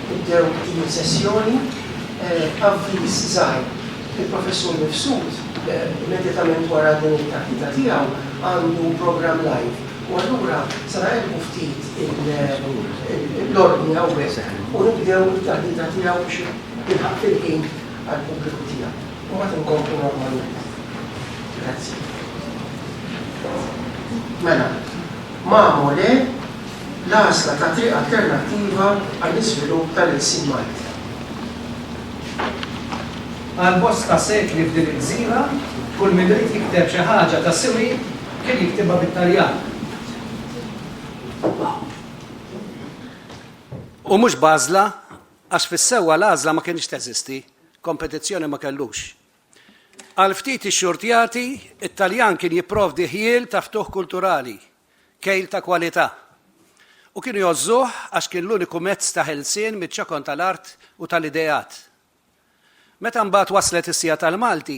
Nibdew din sessjoni avviż żgħir. Il-Professur Mifsud immedjatament wara din it-taħdita tiegħu għandu programm live u allura se naqilbu ftit l-ordni hawnhekk u nibdew it-taħdita tiegħu biex jilħaq fil-ħin għall-pubbliku tiegħu. Imbagħad inkomplu normalment. Grazzi. Mela, Mamo le, l-għażla ta' triq alternattiva għall-iżvilupp tal-ilsien Malti. Għal bosta sekli f'din il-gżira, kull min ried jikteb xi ħaġa ta' siwi kien jiktibha bit-Taljan. U mhux b'għażla, għax fis-sewwa l-għażla ma kinitx teżisti, kompetizzjoni ma kellux. Għal ftit ix-xurtjati, it-Taljan kien jipprovdi ħjiel ta' ftuħ kulturali, kejl ta' kwalità, u kienu jgħożżuh għax kien l-uniku mezz ta' ħelsien miċ-ċokon tal-art u tal-ideat. Meta mbagħad waslet is-siegħa tal-Malti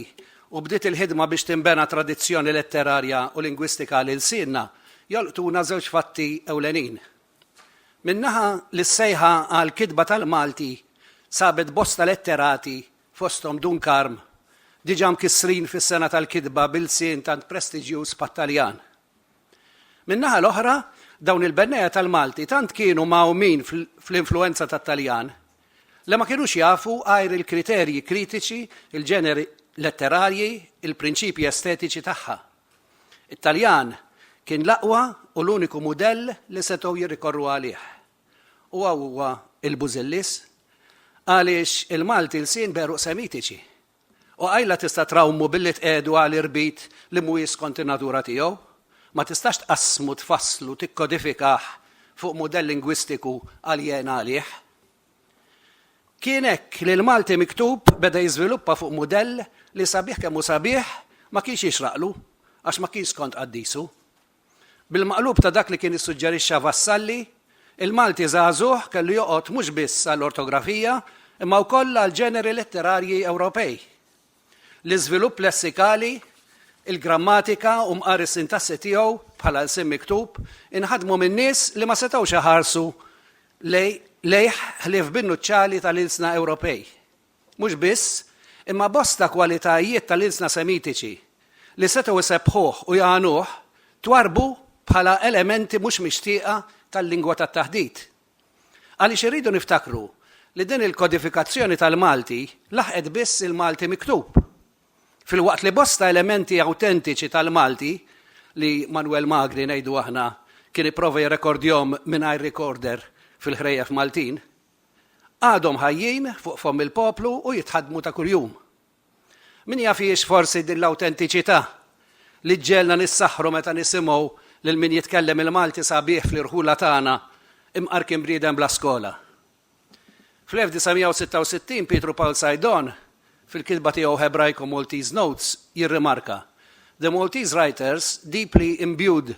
u bdiet il-ħidma biex tinbena tradizzjoni letterarja u lingwistika għal ilsienna, jolqtuna żewġ fatti ewlenin. Minn naħa, li s-sejħa għal kitba tal-Malti sabet bosta letterati, fosthom Dun Karm, diġà mkissrin fis-sengħa tal-kitba b'ilsien tant prestiġjuż bħat-Taljan. Min-naħa l-oħra, dawn il-bennejja tal-Malti tant kienu mgħawmin fl-influwenza tat-Taljan li ma kinux jafu għajr il-kriterji kritiċi, il-ġeneri letterarji, il-prinċipji estetiċi tagħha. It-Taljan kien l-aqwa u l-uniku mudell li setgħu jirrikorru għalih. U hawn huwa il-bużillis għaliex il-Malti lsien b'għeruq Semitiċi. U qajla tista' trawmu billi tqiegħdu għal irbit li mhuwiex skont in-natura tiegħu. Ma tistax tqassmu, tfasslu, tikkodifikah fuq mudell lingwistiku aljena għalih. Kien hekk li l-Malti miktub beda jiżviluppa fuq mudell li sabiħ kemm hu sabiħ ma kienx jixraqlu għax ma kienx skont qaddisu. Bil-maqlub ta' dak li kien issuġġerixxa Vassalli, il-Malti żagħżugħ kellu joqgħod mhux biss għall-ortografija imma wkoll għall-ġeneri letterarji Ewropej, l-iżvilupp lessikali, il-grammatika u mqar is-sintassi tiegħu bħala lsien miktub inħadmu minn nies li ma setgħux iħarsu lejh ħlief bin-nuċċali tal-ilsna Ewropej. Mhux biss, imma bosta kwalitajiet tal-ilsna Semitiċi li setgħu jsebbħuh u jgħanuh twarrbu bħala elementi mhux mixtieqa tal-lingwa tat-taħdit. Għaliex irridu niftakru li din il-kodifikazzjoni tal-Malti laħqet biss il-Malti miktub, filwaqt li bosta elementi awtentiċi tal-Malti, li Manwel Magri, ngħidu aħna, kien ipprova jirrekordjahom mingħajr recorder fil-ħrejjef Maltin, għadhom ħajjin fuq fomm il-poplu u jitħaddmu ta' kuljum. Min jaf hijiex forsi din l-awtentiċità li ġġegħelna nissaħħru meta nisimgħu lil min jitkellem il-Malti sabiħ fl-irħula tagħna, imqar kien bniedem bla skola. Fl-1966 Pietru Pawl Saidon, fil-kitba tiegħu Hebraico Maltese Notes, jirrimarka, The Maltese writers deeply imbued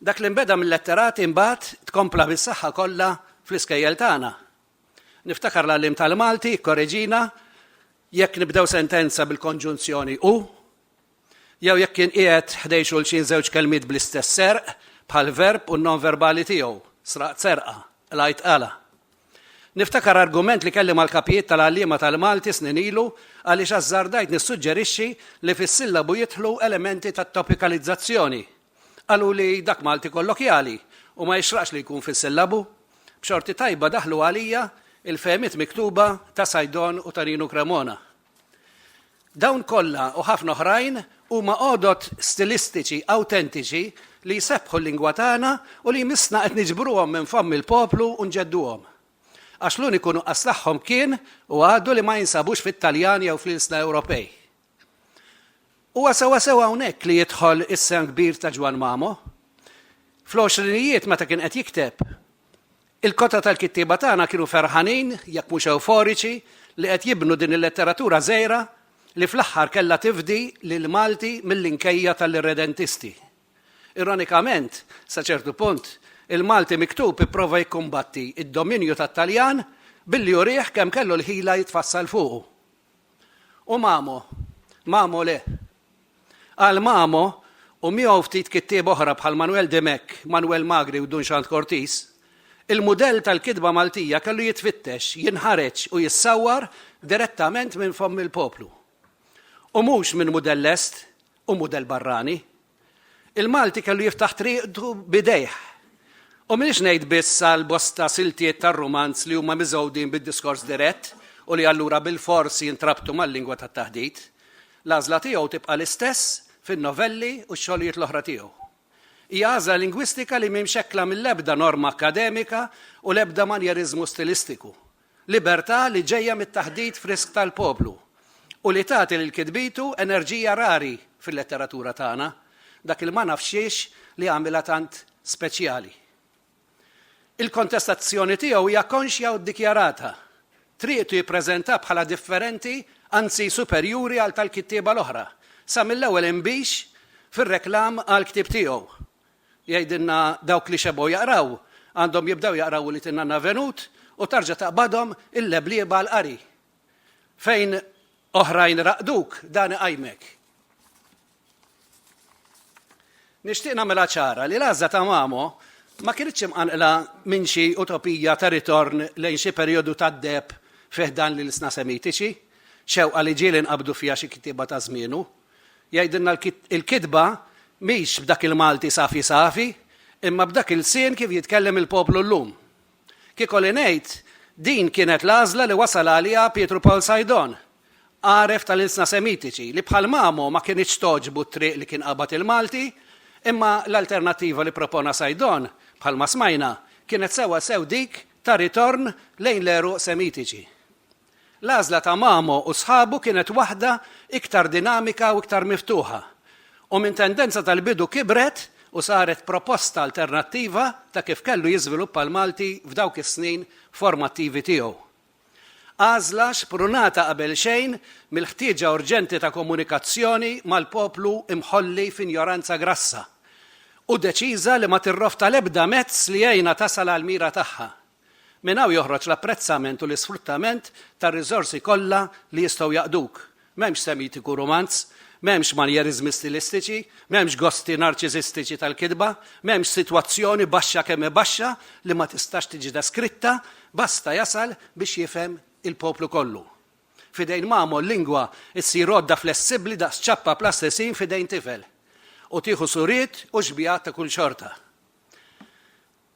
Dak li nbeda mil-letterati mbagħad tkompla bis-saħħa kollha fl-iskejjel tagħna. Niftakar l-għalliem tal-Malti jikkoreġina jekk nibdew sentenza bil-konġunzjoni u jew jekk inqiegħed ħdejn xulxin żewġ kelmiet bl-istess serq bħall-verb u n-nonverbali tiegħu, sraqt serqa, qlajt qala. Niftakar argument li kelli mal-kapijiet tal-għalliema tal-Malti snin ilu għaliex ażżardajt nissuġġerixxi li fis-sillabu jidħlu elementi ta' topikalizzazzjoni. Qaluli dak Malti kollokjali u ma jixraqx li jkun fis-sillabu. B'xorti tajba daħlu għalija il-fehmiet miktuba ta' Saidon u ta' Rinu Cremona. Dawn kollha u ħafna oħrajn huma għodod stilistiċi awtentiċi li jsebbħu l-lingwa tagħna u li jmissna qed niġbruhom minn fomm il-poplu u nġedduhom. Għax l-uniku nuqqas tagħhom kien u għadu li ma jinsabux fit-Taljan jew fl-ilsna Ewropej. Huwa sewwasew hawnhekk li jidħol is-sehem kbir ta' Ġwann Mamo. Fl-għoxrinijiet meta kien qed jikteb, Il-kotta tal-kittieba tagħna kienu ferħanin, jekk mhux ewforiċi, li qed jibnu din il-letteratura żgħira li fl-aħħar kellha tifdi lill-Malti mill-inkejja tal-irredentisti. Ironikament, sa ċertu punt, il-Malti miktub ipprova jikkumbatti d-dominju tat-Taljan billi urih kemm kellu l-ħila jitfassal fuqu. U Mamo? Mamo le. Għal Mamo, u miegħu ftit kittieb oħra bħal Manwel Dimech, Manwel Magri u Dunxand Cortis, il-mudell tal-kitba Maltija kellu jitfittex, jinħareġ u jissawwar direttament minn fomm il-poplu. U mhux minn mudell lest u mudell barrani. Il-Malti kellu jiftaħ triqtu b'idejh. U m'iniex ngħid biss għal bosta siltiet tar-rumanz li huma miżgħudin bid-diskors dirett u li allura bilfors jintrabtu mal-lingwa tat-taħdit. L-għażla tiegħu tibqa' l-istess fin-novelli u x-xogħlijiet l-oħra tiegħu. Hija għażla lingwistika li mhi mxekkla mill-ebda norma akkademika u l-ebda manjeriżmu stilistiku. Libertà li ġejja mit-taħdit frisk tal-poplu u li tagħti lil kitbitu enerġija rari fil-letteratura tagħna, dak il-ma nafx xiex li għamilha tant speċjali. Il-kontestazzjoni tiegħu hija konxja u ddikjarata. Triqtu jippreżentha bħala differenti, anzi superjuri għal tal-kittieba l-oħra, sa mill-ewwel inbix fir-reklam għall-ktieb tiegħu. Jgħidilna dawk li xebgħu jaqraw, għandhom jibdew jaqraw Ulied in-Nanna Venut u tarġa' taqbadhom il-leblieba għall-qari. Fejn oħrajn raqduk, dan iqajmek. Nixtieq nagħmilha ċara li l-għażla ta' Mamo ma kinitx imqanqla minn xi utopija ta' ritorn lejn xi perjodu tad-deheb fi ħdan l-ilsna Semitiċi, xewqa li ġieli nqabdu fiha xi kittieba ta' żmienu. Jgħidilna l-kitba mhix b'dak il-Malti safi safi, imma b'dak il-lsien kif jitkellem il-poplu llum. Kieku li ngħid, din kienet l-għażla li wasal għaliha Pietru Pawl Sajdon, għaref tal-ilsna Semitiċi, li bħal mgħamu ma kinitx togħġbu t-triq li kien qabad il-Malti, imma l-alternattiva li propona Sajdon, bħalma smajna, kienet sewwasew dik ta' ritorn lejn l-għeruq Semitiċi. L-għażla ta' Mamo u sħabu kienet waħda iktar dinamika u iktar miftuħa, u minn tendenza tal-bidu kibret u saret proposta alternattiva ta' kif kellu jiżviluppa l-Malti f'dawk is-snin formattivi tiegħu. Għażla xprunata qabelxejn mill-ħtieġa urġenti ta' komunikazzjoni mal-poplu imħolli f'injoranza grassa u deċiża li ma tirrofta l-ebda mezz li jgħinha tasal għall-mira tagħha. Minn hawn joħroġ l-apprezzament u l-isfruttament tar-riżorsi kollha li jistgħu jaqduk. M'hemmx semitiku rumanz, m'hemmx manjeriżmi stilistiċi, m'hemmx gosti narċisistiċi tal-kitba, m'hemmx sitwazzjoni baxxa kemm hi baxxa li ma tistax tiġi deskritta, basta jasal biex jifhem il-poplu kollu. F'idejn Mamo l-lingwa ssir għodda flessibbli daqs ċappa plastisin f'idejn tifel u tieħu suriet u xbigħat ta' kull xorta.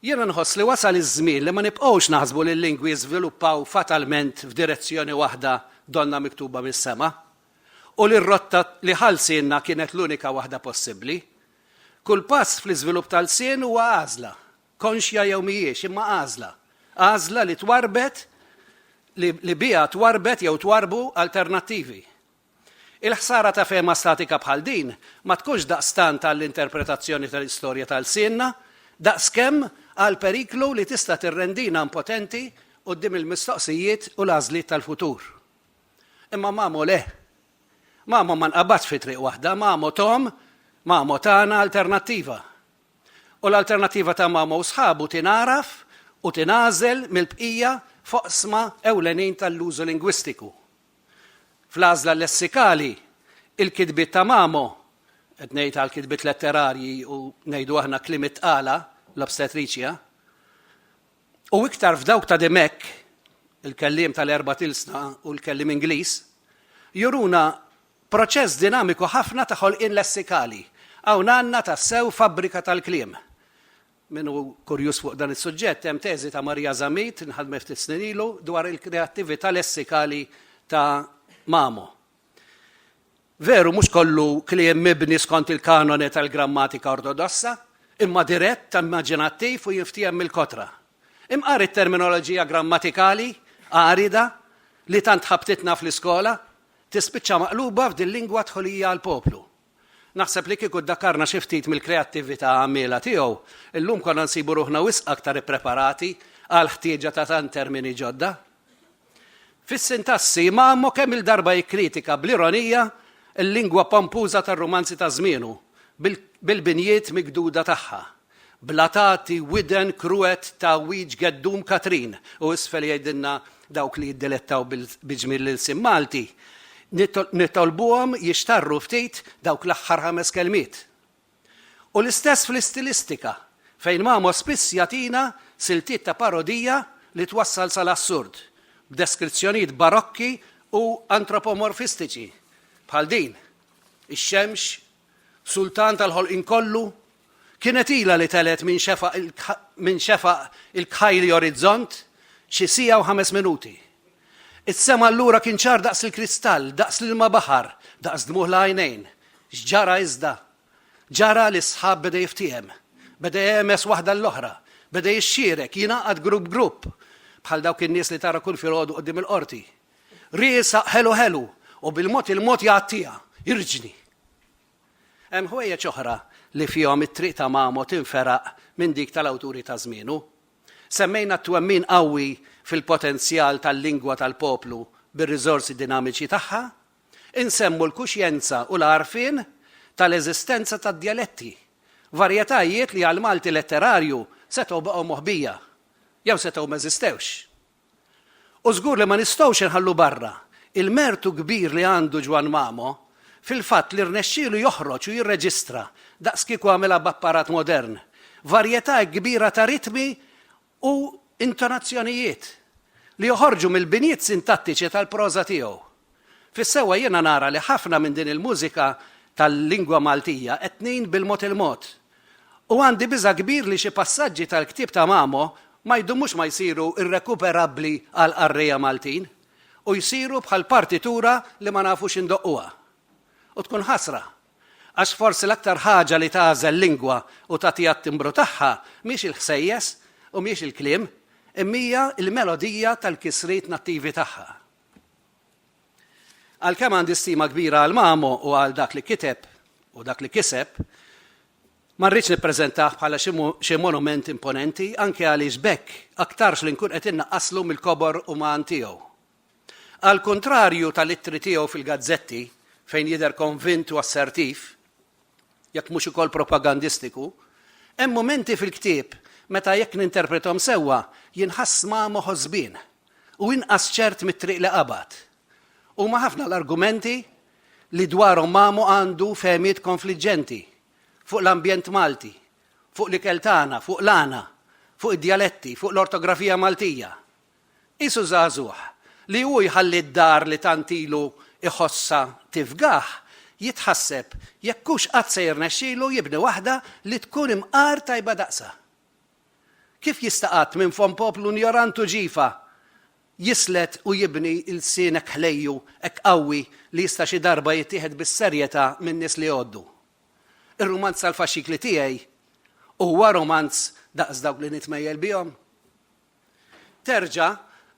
Jiena nħoss li wasal iż-żmien li ma nibqgħux naħsbu li l-lingwi jiżviluppaw fatalment f'direzzjoni waħda donnha miktuba mis-sema, u li r-rotta li ħa lsienna kienet l-unika waħda possibbli. Kull pass fl-iżvilupp ta' lsien huwa għażla, konxja jew mhijiex, imma għażla. Għażla li twarrbet, li biha twarrbet jew twarrbu alternattivi. Il-ħsara ta' fehma statika bħal din ma tkunx daqstant għall-interpretazzjoni tal-istorja ta' lsienna, daqskemm għall-periklu li tista' tirrendina impotenti quddiem il-mistoqsijiet u l-għażliet tal-futur. Imma Mamo le. Mamo ma nqabadx fi triq waħda, Mamo Tom, Mamo tana alternattiva. U l-alternattiva ta' Mamo u sħabu tingħaraf u tingħażel mill-bqija f'oqsma ewlenin tal-użu lingwistiku, Fl-għażla lessikali, il-kitbiet ta' Mamo, qed ngħid għall-kitbiet letterarji u ngħidu aħna kliem it-tqala, l-obstetricia, u iktar f'dawk ta' Dimech, il-kelliem tal-erbat ilsna u l-kelliem Ingliż, juruna proċess dinamiku ħafna ta' ħolqien lessikali. Hawn għandna tassew fabbrika tal-kliem. Min hu kurjuż fuq dan is-suġġett, hemm teżi ta' Maria Zammit, nħadmet ftit snin ilu, dwar il-kreattività lessikali ta' Mamo. Veru, mhux kollu kliem mibni skont il-kanone tal-grammatika ortodossa, imma dirett, immaġinattiv u jinftiehem mill-kotra. Imqar it-terminoloġija grammatikali għarida li tant ħabtitna fl-iskola, tispiċċa maqluba f'dil-lingwa dħulija għall-poplu. Naħseb li kieku ddakkarna xi ftit mill-kreattività għammiela tiegħu, illum konna nsibu ruħna wisq aktar ippreparati għall-ħtieġa ta' tant termini ġodda. Fis-sintassi, Mamo kemm-il darba jikkritika bl-ironija l-lingwa pompuża tar-rumanzi ta' żmienu, bil-binjiet migduda tagħha. Bla tagħti widen kruet ta' wiċċ Geddum Katrin u isfel jgħidilna dawk li jiddilettaw bi ġmiel l-ilsien Malti. Nitolbuhom jixtarru ftit dawk l-aħħar ħames kelmiet. U l-istess fl-istilistika, fejn Mamo spiss jagħtina siltiet ta' parodija li twassal sal-assurd, b'deskrizzjonijiet barokki u antropomorfistiċi, bħal din, ix-xemx Sultan tal-ħolqien kollu, kienet ilha li telgħet minn xefaq minn xefaq il-kħajli orizzont xi siegħa u ħames minuti. Is-sema allura kien ċar daqs il-kristall, daqs l-ilma baħar, daqs dmugħ l-għajnejn. X'ġara iżda? Ġara li s-sħab beda jiftiehem. Beda jehmeż waħda l-oħra. Beda jixxierek, jingħaqad grupp grupp, bħal dawk in-nies li tara kull filgħodu quddiem il-qorti. Ri isaq ħelu ħelu u bil-mod il-mod jgħattiha, irġni. Hemm ħwejjeġ oħra li fihom it-triq ta' Mamo tinferaq minn dik tal-awturi ta' żmienu. Semmejna t-twemmin qawwi fil-potenzjal tal-lingwa tal-poplu bir-riżorsi dinamiċi tagħha, insemmu l-kuxjenza u l-għarfien tal-eżistenza tad-djaletti, varjetajiet li għall-Malti letterarju setgħu baqgħu moħbija jew setgħu m'eżistewx. U żgur li ma nistgħux inħallu barra l-mertu kbir li għandu Ġwann Mamo fil-fatt li rnexxielu joħroġ u jirreġistra, daqskieku għamilha b'apparat modern, varjetà hekk kbira ta' ritmi u intonazzjonijiet li joħorġu mill-binjiet sintattiċi tal-proża tiegħu. Fis-sewwa jiena nara li ħafna minn din il-mużika tal-lingwa Maltija qed tnejn bil-mod il-mod. U għandi biża' kbir li xi passaġġi tal-ktieb ta' Mamo ma jdumux ma jsiru irrekuperabbli għall-qarrejja Maltin u jsiru bħal partitura li ma nafux indoqquha. U tkun ħasra. Għax forsi l-aktar ħaġa li tagħżel lingwa u tagħtiha t-timbru tagħha mhiex il-ħsejjes u mhiex il-kliem, imma hija l-melodija tal-kisriet nattivi tagħha. Għalkemm għandi stima kbira għal Mamo u għal dak li kiteb u dak li kiseb, ma rridx nippreżentah bħala xi monument imponenti, anke għaliex b'hekk aktarx li nkun qed innaqqaslu mill-kobor uman tiegħu. Għall-kuntrarju tal-ittri tiegħu fil-gazzetti, fejn jidher konvint u assertiv, jekk mhux ukoll propagandistiku, hemm mumenti fil-ktieb meta jekk ninterprethom sewwa jinħass Mamo ħosbien u inqas ċert mit-triq li qabad. Huma ħafna l-argumenti li dwarhom Mamo għandu fehmiet konfliġġenti, fuq l-ambjent Malti, fuq l-ikel tagħna, fuq l-għana, fuq id-djaletti, fuq l-ortografija Maltija. Qisu żagħżugħ li hu jħalli d-dar li tant ilu jħossha tifgah, jitħasseb jekk hux qatt se jirnexxilu jibni waħda li tkun imqar tajba daqsha. Kif jista' qatt minn fomm poplu njorant u ġifa jislet u jibni lsien hekk ħlejju, hekk qawwi li jista' xi darba jittieħed bis-serjetà min-nies li jgħoddu? Ir-rumanz tal-faxxikli tiegħi huwa rumanz daqs dawk li nitmejjel bihom? Terġa'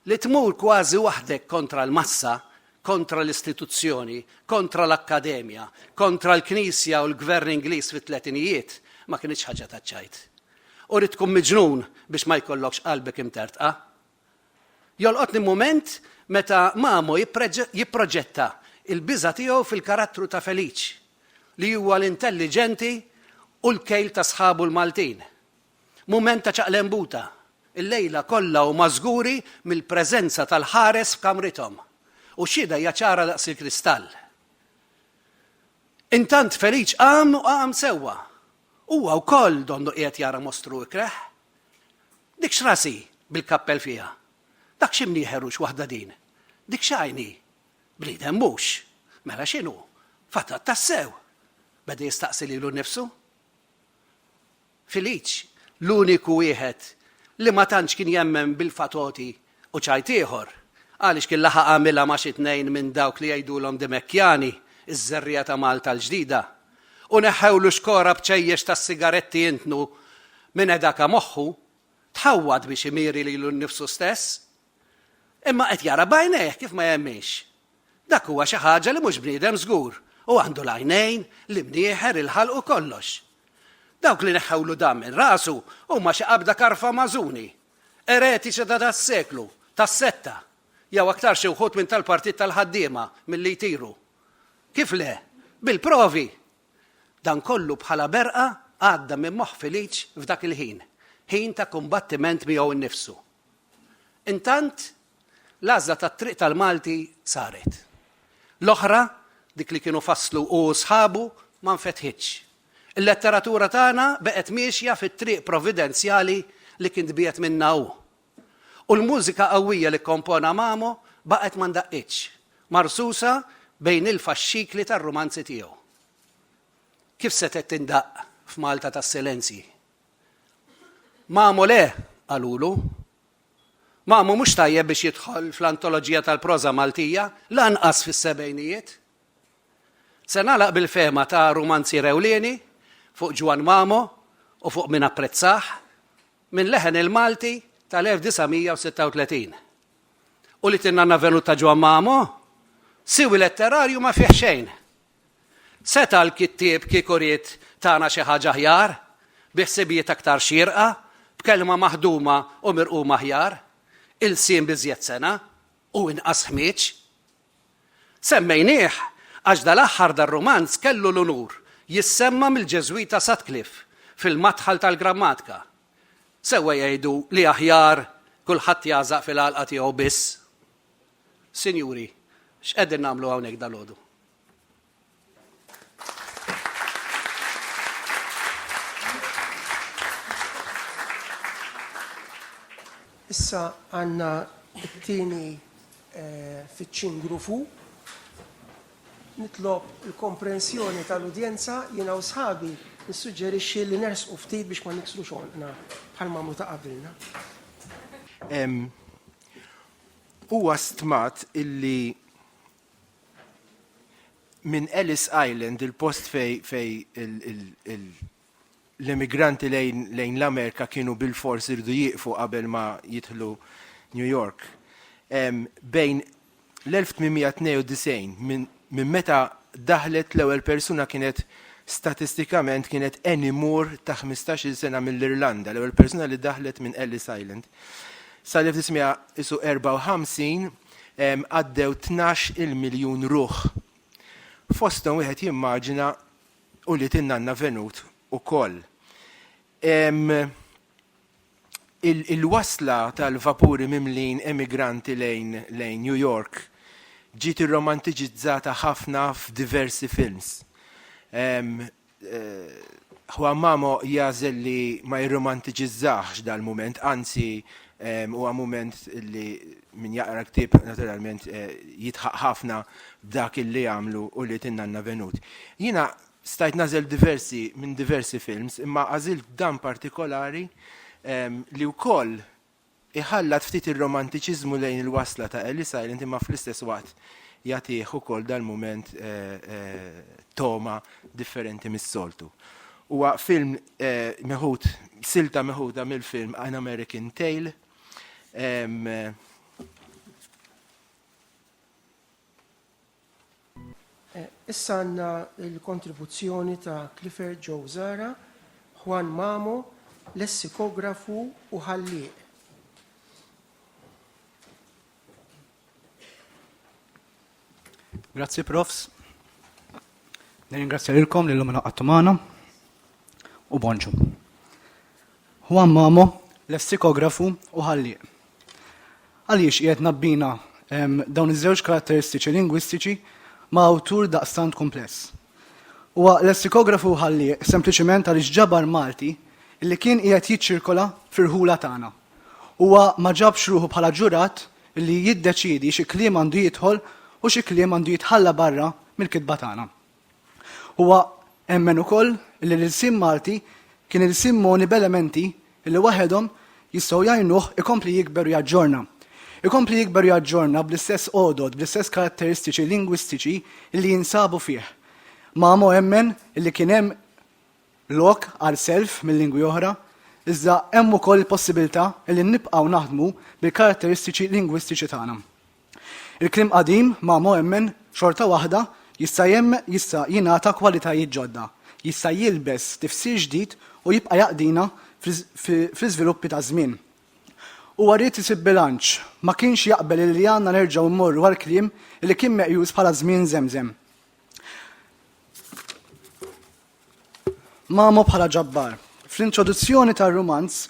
li tmur kważi waħdek kontra l-massa, kontra l-istituzzjoni, kontra l-akkademja, kontra l-Knisja u l-Gvern Ingliż fit-tletinijiet ma kinitx ħaġa taċ-ċajt. U rrid tkun miġnun biex ma jkollokx qalbek imtertqa. Jolqotni mument meta Mamo jipproġetta l-biża' tiegħu fil-karattru ta' Feliċ, li huwa l-intelliġenti u l-kejl ta' sħabu l-Maltin. Mument ta' ċaqlembuta. Il-lejla kollha huma żguri mill-preżenza tal-ħares f'kamrithom, u x-xhieda hija ċara daqs il-kristall. Intant Feliċ qam u qam sewwa. Huwa wkoll donnu qiegħed jara mostru ikreh. Dik x'ras hi bil-kappell fiha? Dak x'imnieħer u x'waħda din? Dik x'għajn hi? Bniedem mhux! Mela x'inhu? Fatat tassew! beda jistaqsi lilu nnifsu. Filiċ, l-uniku wieħed li ma tantx kien jemmen bil-fatoti u ċajt ieħor, għaliex kien laħaq għamilha ma' xi tnejn minn dawk li jgħidulhom Dimekkjani, iż-żerriegħa ta' Malta l-ġdida, u neħħewlu xkora b'ċejjex tas-sigaretti intnu minn edaka moħħu, tħawwad biex imiri lilu nnifsu stess. Imma qed jara b'għajnejh kif ma jemminx. Dak huwa xi ħaġa li mhux bniedem żgur u għandu l-għajnejn, l-imnieħer, il-ħalq u kollox. Dawk li neħħewlu dan minn rasu huma xi qabda karfa Mażuni, eretiċi ta' das-seklu, tas-setta, jew aktar xi wħud minn tal-Partit tal-Ħaddiema, milli jtiru. Kif le? Bil-provi! Dan kollu bħala berqa għadda minn moħħ Filiċ f'dak il-ħin, ħin ta' kumbattiment miegħu nnifsu. Intant L-għażla tat-triq tal-Malti saret. L-oħra, dik li kienu fasslu hu u sħabu, ma nfetħitx. Il-letteratura tagħna beqgħet miexja fit-triq providenzjali li kien tbiegħed minnha hu. U l-mużika qawwija li kkompona Mamo baqgħet ma ndaqqitx, marsusa bejn il-faxxikli tar-rumanzi tiegħu. Kif setgħet tindaqq f'Malta tas-silenzji? Mamo le, qalulu. Ma hu mhux tajjeb biex jidħol fl-antoloġija tal-proża Maltija, lanqas fis-sebgħinijiet. Se nagħlaq bil-fehma ta' rumanzier ewlieni fuq Ġwann Mamo u fuq min apprezzah, minn leħen il-Malti tal-1936. U li tinnanna Venut ta' Ġwann Mamo? Siwi letterarju ma fih xejn! Seta' l-kittieb kieku ried tana xi ħaġa aħjar, bi ħsibijiet aktar xierqa, b'kelma maħduma u mirquma aħjar, ilsien b'iżjed sengħa u inqas ħmieġ. Semmejnieh għax dal-aħħar dar-rumanz kellu l-unur jissemma' mill-Ġeżwita Sutcliffe fil-Madħal tal-Grammatika. Sewwa jgħidu li aħjar kulħadd jagħżaq fil-għalqa tiegħu biss. Sinjuri, x'qegħdin nagħmlu hawnhekk dalgħodu? Issa għanna t-tini eh, fiċċin grufu. Nitlob il-komprensjoni tal-udjenza jina u sħabi nissuġġerixxi li nersqu ftit biex ma niksru xogħolna bħal mamlu ta' qabilna. Huwa stmat illi Minn Ellis Island, il-post fej, fej l-immigranti lejn, lejn l-Amerika kienu bil-fors irdu jieqfu qabel ma jidħlu New York. Um, bejn l-1892 minn min meta daħlet l-ewwel persuna kienet statistikament kienet Annie Moore ta' 15-il sena mill-Irlanda, l-ewwel persuna li daħlet minn Ellis Island. Sa l-1954 għaddew tnax il-miljun ruħ. Fosthom wieħed jimmaġina ulied in-nanna Venut ukoll. Il-wasla tal-vapuri mimlin emigranti lejn New York ġiet irromantiċizzata ħafna f'diversi films. Juan Mamo jagħżel li ma jirromantiċiżżahx dal-mument, anzi huwa mument li min jaqra l-ktieb naturalment jidħaq ħafna b'dak illi għamlu ulied in-nanna Venut. Jiena stajt nagħżel diversi minn diversi films imma għażilt dan partikolari li wkoll Iħallat ftit ir-romantiċiżmu lejn il-wasla ta' Ellis Island imma fl-istess waqt jagħtih ukoll dal-mument togħma differenti mis-soltu. Huwa film meħud, silta meħuda mill-film An American Tail. Issa għandna l-kontribuzzjoni ta' Clifford Joe Zahra, Juan Mamo, lessikografu u ħallieq. Grazzi profs. Nirringrazzja lilkom li l-lum naqattu magħna u bonġu. Juan Mamo, lessikografu u ħallieq. Għaliex qiegħed ngħabbina dawn iż-żewġ karatteristiċi lingwistiċi ma' awtur daqstant kumpless? Huwa lessikografu u ħallieq sempliċiment għaliex ġabar Malti li kien qiegħed jiċċirkola fir-rħula tagħna. Huwa ma ġabx ruħu bħala ġurat li jiddeċiedi xi kliem għandu jidħol u xi kliem għandu jitħalla barra mill-kitba tagħna. Huwa emmen ukoll li l-ilsien Malti kien ilsien mogħni b'elementi li waħedhom jistgħu jgħinuh ikompli jikber u jaġġorna. Ikompli jikber u jaġġorna bl-istess għodod, bl-istess karatteristiċi lingwistiċi li jinsabu fih. Mamo emmen li kien hemm lok għal self minn lingwi oħra, iżda hemm ukoll il-possibilità li nibqgħu naħdmu bil-karatteristiċi lingwistiċi tagħna. Il-kliem qadim, ma' mhemmen, xorta waħda, jista' jista' jingħata kwalitajiet ġodda, jista' jilbes tifsir ġdid u jibqa' jaqdina fl-iżviluppi taż-żmien. Huwa ried isib bilanċ, ma kienx jaqbel illi għandna nerġgħu mmorru għal kliem illi kien meqjus bħala żmien żemżem. Mamo bħala ġabbar. Fl-introduzzjoni tar-rumanz,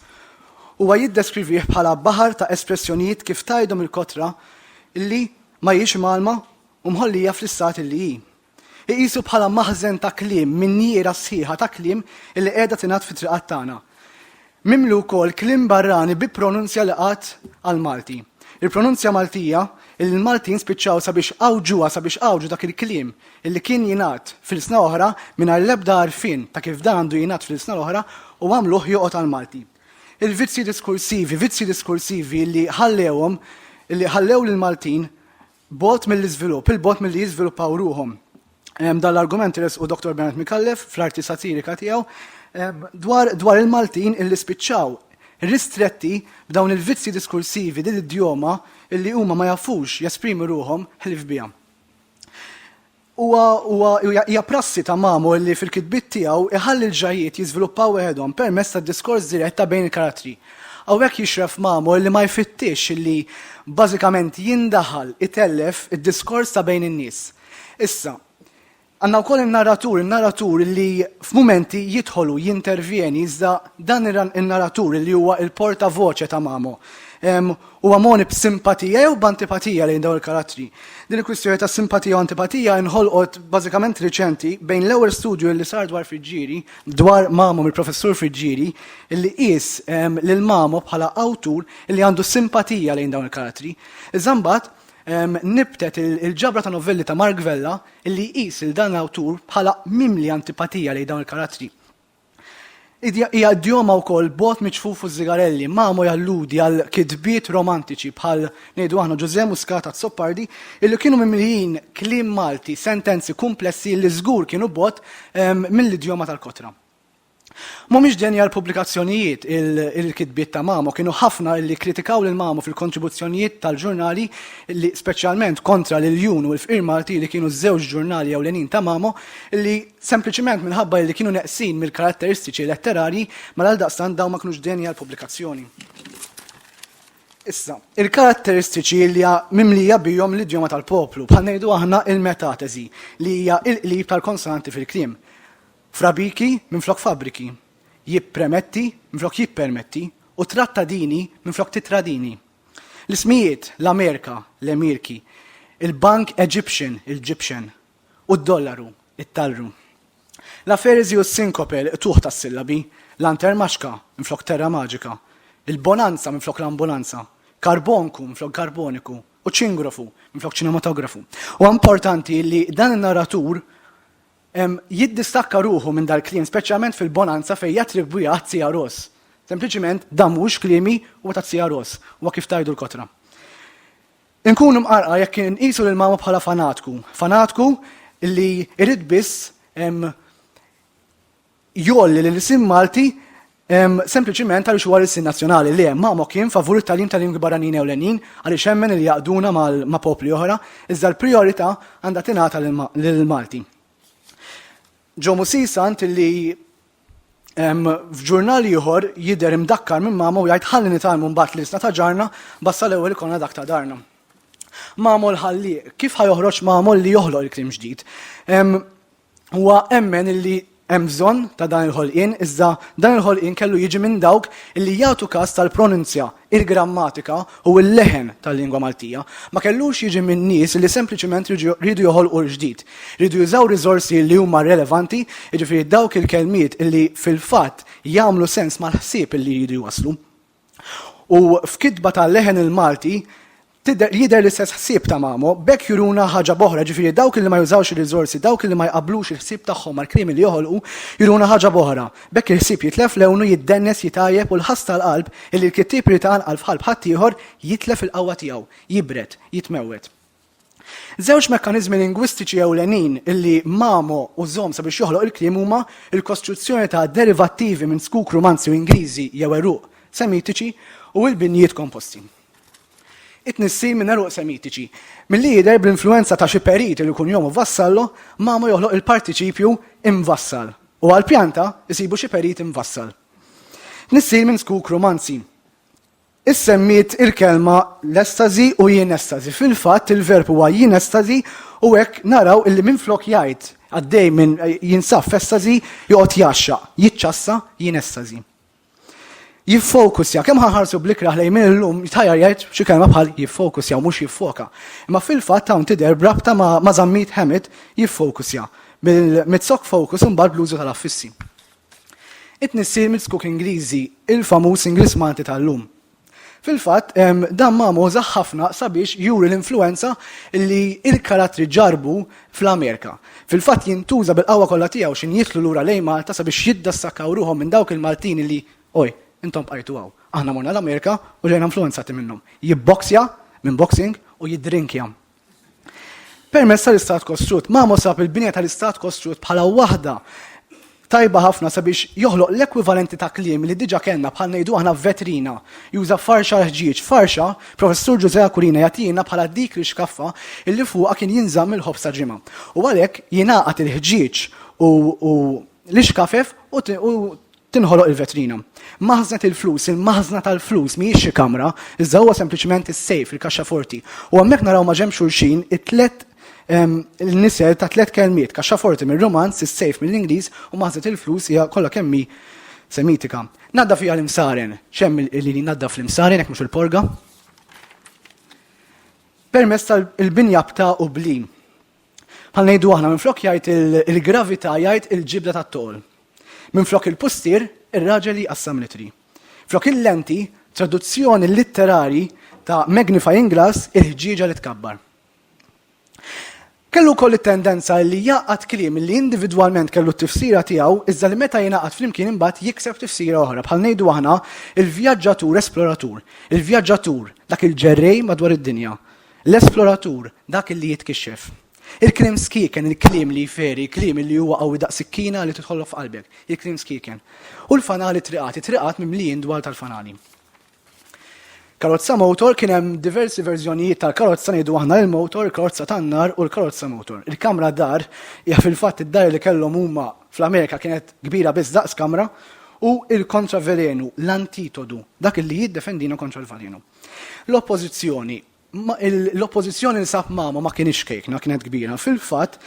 huwa jiddeskrivih bħala baħar ta' espressjonijiet kif tgħidhom il-kotra li ma hijiex imgħallma u mħollija fl-istat li hi. Iqisu bħala maħżen ta' kliem, minjiera sħiħa ta' kliem li qiegħda tingħadd fit-triqat tagħna. Mimli wkoll kliem barrani bi pronunzja li qatt għall-Malti. Il-pronunzja Maltija illi l-Maltin spiċċaw sabiex għawġuha sabiex għawġu dak il-kliem illi kien jingħad f'ilsna oħra mingħajr l-ebda għarfien ta' kif dan għandu jingħad fl-ilsna l-oħra u għamluh joqgħod għall-Malti. Il-vizzji diskursivi, vizzji diskursivi illi ħallewhom, illi ħallew lill-Maltin Bogħod mill-iżvilupp, il-bogħod milli jiżviluppaw ruħhom. Dan l-argument resqu Dr. Bernard Micallef fl-arti satirika tiegħu dwar dwar il-Maltin illi spiċċaw ristretti b'dawn il-vizzji diskursivi din id-djoma illi huma ma jafux jesprimu ruħhom ħlief biha. Huwa, huwa, hija prassi ta' Mamo li fil-kitbiet tiegħu jħalli l-ġrajjiet jiżviluppaw weħedhom permezz ta' diskors dirett ta' bejn il-karattri. Hawnhekk jixref Mamo li ma jfittixx li bażikament jindaħal, itellef, id-diskors ta' bejn in-nies. Issa, għandna wkoll in-narratur, in-narratur li f'mumenti jidħol u jintervjeni iżda dan in-narratur li huwa l-porta voce ta' Mamo. Huwa mogħni b'simpatija jew b'antipatija lejn dawn il-karattri? Din il-kwistjoni ta' simpatija u antipatija inħolqot bażikament riċenti bejn l-ewwel studju li sar dwar Friġġieri, dwar Mamo mill-Professur Friġġieri, li qies lil Mamo bħala awtur li għandu simpatija lejn dawn il-karattri. Iżda mbagħad nibtet il-ġabra ta' novelli ta' Mark Vella li jqis lil dan l-awtur bħala mimli antipatija lejn dawn il-karattri. Hija d-djoma wkoll bot miċfuf u żigarelli, mamu jalludi għal kitbiet romantiċi bħal ngħidu aħna Ġużè Muscat Azzopardi illi kienu mimlijin kliem Malti, sentenzi kumplessi li żgur kienu bot ehm, mill-idjoma tal-kotra. Mhumiex denja l-pubblikazzjonijiet il-kitbiet ta' Mamo kienu ħafna li kritikaw lil Mamo fil-kontribuzzjonijiet tal-ġurnali li speċjalment kontra l-Jun u l-Fqir Malti li kienu ż-żewġ ġurnali ewlenin ta' Mamo li sempliċiment minħabba li kienu neqsin mill-karatteristiċi letterarji ma għaldaqstant dawn ma kinux deni għal pubblikazzjoni. Issa, il-karatteristiċi li hija mimlija bihom l-idjoma tal-poplu, bħal ngħidu aħna il-metateżi li hija il-qlib tal-konsonanti fil-kliem. Frabiki minflok fabriki, jippremetti minflok jippermetti u trattadini minflok titradini. L-ismijiet, l-Amerika, l-Emirki, il-Bank Egyptian, il-Gyptian, u d-dollaru, it-talru. La ferezi u s-sinkope l-qtugħ tas-sillabi, lantermaxka minflok terramaġika, il-bonanza minflok l-ambunanza, karbonku minflok karboniku u ċingrofu minflok ċinematografu. Huwa importanti li dan in-narratur jiddistakka ruħu minn dal-kliem, speċjalment fil-bonanza fejn jattribwiha għat-Tzija Ros. Sempliċiment dan mhuwiex kliemi, huwa tat-Tzija Ros, huwa kif tgħidu l-kotra. Inkun imqarqa jekk inqisu lil mama bħala fanatku, fanatku li jrid biss jgħolli lil isim Malti sempliċiment għaliex huwa l-isim nazzjonali. Le, mama kien favur it-tagħlim ta' lingwi barranin ewlenin għaliex hemmen li jaqduna ma' popli oħra, iżda l-prijorità għandha tingħata lill-Malti. Ġo Musisa int li F'ġurnal ieħor jidher imdakkar minn mama u jgħid ħalli nitalmu mbagħad l-isna ta' ġarna basta l-ewwel ikolna dak ta' darna. Mamol ħalli, kif ħajoħroġ mamol li joħloq il-krim ġdid? Huwa emmen illi hemm bżonn ta' dan il-ħolqien, iżda dan il-ħolqien kellu jiġi minn dawk illi jagħtu każ tal-pronunzja il-grammatika u l-leħen tal-lingwa Maltija, ma kellux jiġi minn nies li sempliċiment riedu joħolqu l-ġdid. Riedu jużaw riżorsi li huma relevanti, jiġifieri dawk il-kelmiet li fil-fatt jagħmlu sens mal-ħsieb li jridu jwasslu. U f'kitba tal-leħen il-Malti, Tidher, jidher l-istess ħsieb ta' Mamo, b'hekk juruna ħaġa b'oħra, ġifieri dawk li ma jużawx ir-riżorsi, dawk li ma jqabblux il-ħsieb tagħhom mal-krimi li joħolqu, juruna ħaġa b'oħra. B'hekk il-ħsieb jitlef lewnu, jiddennes, jitgħajjeb u l-ħass tal-qalb, illi l-kittieb irid iqanqal f'qalb ħaddieħor, jitlef il-qawwa tiegħu, jibred, jitmewwed. Żewġ mekkaniżmi lingwistiċi ewlenin illi Mamo użhom sabiex joħloq il-kliem huma l-kostruzzjoni ta' derivattivi minn squk Rumanzi u Ingliżi jew għeruq Semitiċi u l-binjiet komposti. It-tnissil minn għeruq Semitiċi. Milli jidher bl-influwenza ta' xi perit li jkun jomu Vassallo, Mamo joħloq il-partiċipju imvassal u għal pjanta jsibu xi perit imvassal. Tnissil minn skuk Rumanzi. Issemmiet il-kelma l-estasi u jien estasi. Fil-fatt il-verb huwa jien estasi u hekk naraw illi minflok jgħid għaddej minn jinsab f'estasi joqgħod jaxxaq, jiċċassa jien estasi. jiffokusja, kemm ħanħarsu blikraħ lejn minn illum jitħajjar jgħid xi kelma bħal jiffokusja mhux jiffoka. Imma fil-fatt hawn tidher brabta ma' żammit ħemit jiffokusja mill-mizzok fokus imbagħad bl-użu tal-affissi. It-tnissil mill-skuk Ingliżi, il-famuż Ingliż Malti tal-lum. Fil-fatt, dan Mamo użah ħafna sabiex juri l-influwenza li l-karattri ġarrbu fl-Amerika. Fil-fatt jintuża bil-qawwa kollha tiegħu x'in jidħlu lura lejn Malta sabiex jiddassakkau ruħhom minn dawk il-Maltin li, oj, intom bqajtu hawn. Aħna morna l-Amerika u ġejna influwenzati minnhom. Jibboksja, minn boxing, u jiddrinkja. Permezz tal-Istat Kostrut, Mamo sab il-binja tal-Istat Kostrut bħala waħda tajba ħafna sabiex joħloq l-ekwivalenti ta' kliem li diġa kellna bħal ngħidu aħna vetrina, juża farxa l-ħġieġ, farxa, Professur Ġużè Aquilina jagħtina bħala dik l-ixkaffa illi fuqha kien jinżamm il-ħobż ta' ġimgħa. U għalhekk jingħaqad il-ħġieġ u l-ixkafef u tinħoloq il-vetrina. Maħżnet il-flus, il-maħżna tal-flus mhijiex xi kamra, iżda huwa sempliċement is-sejf, il-kaxxaforti. U hemmhekk naraw ma' ġenb xulxin it-tliet nisel ta' tliet kelmiet, kaxxaforti mir-Rumanz, is-sejf mill-Ingliż u maħżnet il-flus hija kollha kemm hi Semitika. Naddaf hija l-imsaren, x'hemm li jnaddaf l-imsaren jekk mhux il-porga? Permezz tal-binja b'ta' u bli. Bħal ngħidu aħna minflok jgħid il-gravità jgħid il-ġibda tat-toqol. Minflok il-pustier, ir-raġel jqassam litri. Flok il-lenti, traduzzjoni litterari ta' magnifying glass il-ħġieġa li tkabbar. Kellu wkoll it-tendenza li jaqgħad kliem li individwalment kellu t-tifsira tiegħu iżda li meta jingħaqad flimkien imbagħad jikseb tifsira oħra bħal ngħidu aħna il-vjaġġatur esploratur, il-vjaġġatur dak il-ġerrej madwar id-dinja. L-esploratur, dak li jitkixxef. Il-kliem skieken, il-kliem li jferi, il-kliem li huwa qawwi daqs sikkina li tidħollok f'qalbek, il-kliem skieken. U l-fanali triqat, it-triqat mimlijin dwal tal-fanali. Karozza motor kien hemm diversi verżjonijiet tal-karozza ngħidu aħna l-motor, il-karozza tan-nar u l-karozza motor. Il-kamra dar hija fil-fatt id-dar li kellhom huma fl-Amerika kienet kbira biss daqs kamra u l-kontravelenu, l-antitodu, dak li jiddefendina kontra l-valenu. L-Oppożizzjoni. L-Oppożizzjoni li sab Mama ma kienx kejkna, kienet kbira. Fil-fatt,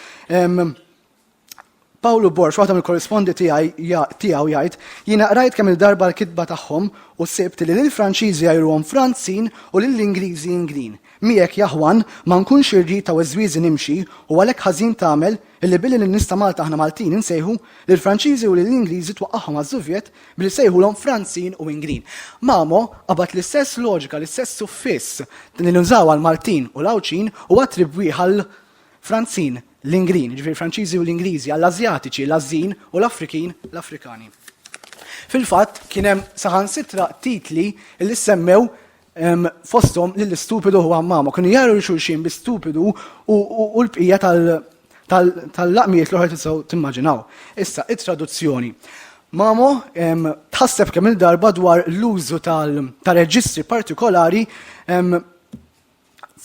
Pawlu Borx, waħda mill-korrispondi tiegħu jgħid, jiena qrajt kemm il-darba l-kitba tagħhom u sibt li lil Franċiżi jgħiruhom Franzin u lil Ingliżi Inglin. Miegħek jaħwan ma nkunx irrid ta' weżwieżi nimxi u għalhekk ħażin tagħmel illi billi lin-nies ta' Malta aħna Maltin insejħu, lill-Franċiżi u lill-Ingliżi twaqqagħhom għaż-żuvjet Billi sejħulhom Franzin u Ingrin. Mamo qabad l-istess loġika, l-istess suffiss li nużaw għal Maltin u l-Għawdxin u attribwi għal Franzin, l-Ingrin, ġifieri Franċiżi u l-Ingliżi, għall Ażjatiċi, l-Għażżin, u l-Afrikin, l-Afrikani. Fil-fatt, kien hemm saħansitra titli li semmew fosthom li l-istupidu u għammama kienu jaru xulxin bi stupidu u l-bqija tal-laqmijiet l-oħra tisaw timmaġinaw. Issa, it-traduzzjoni. Mamo tħasseb kemm il-darba dwar l-użu tal-reġistri partikolari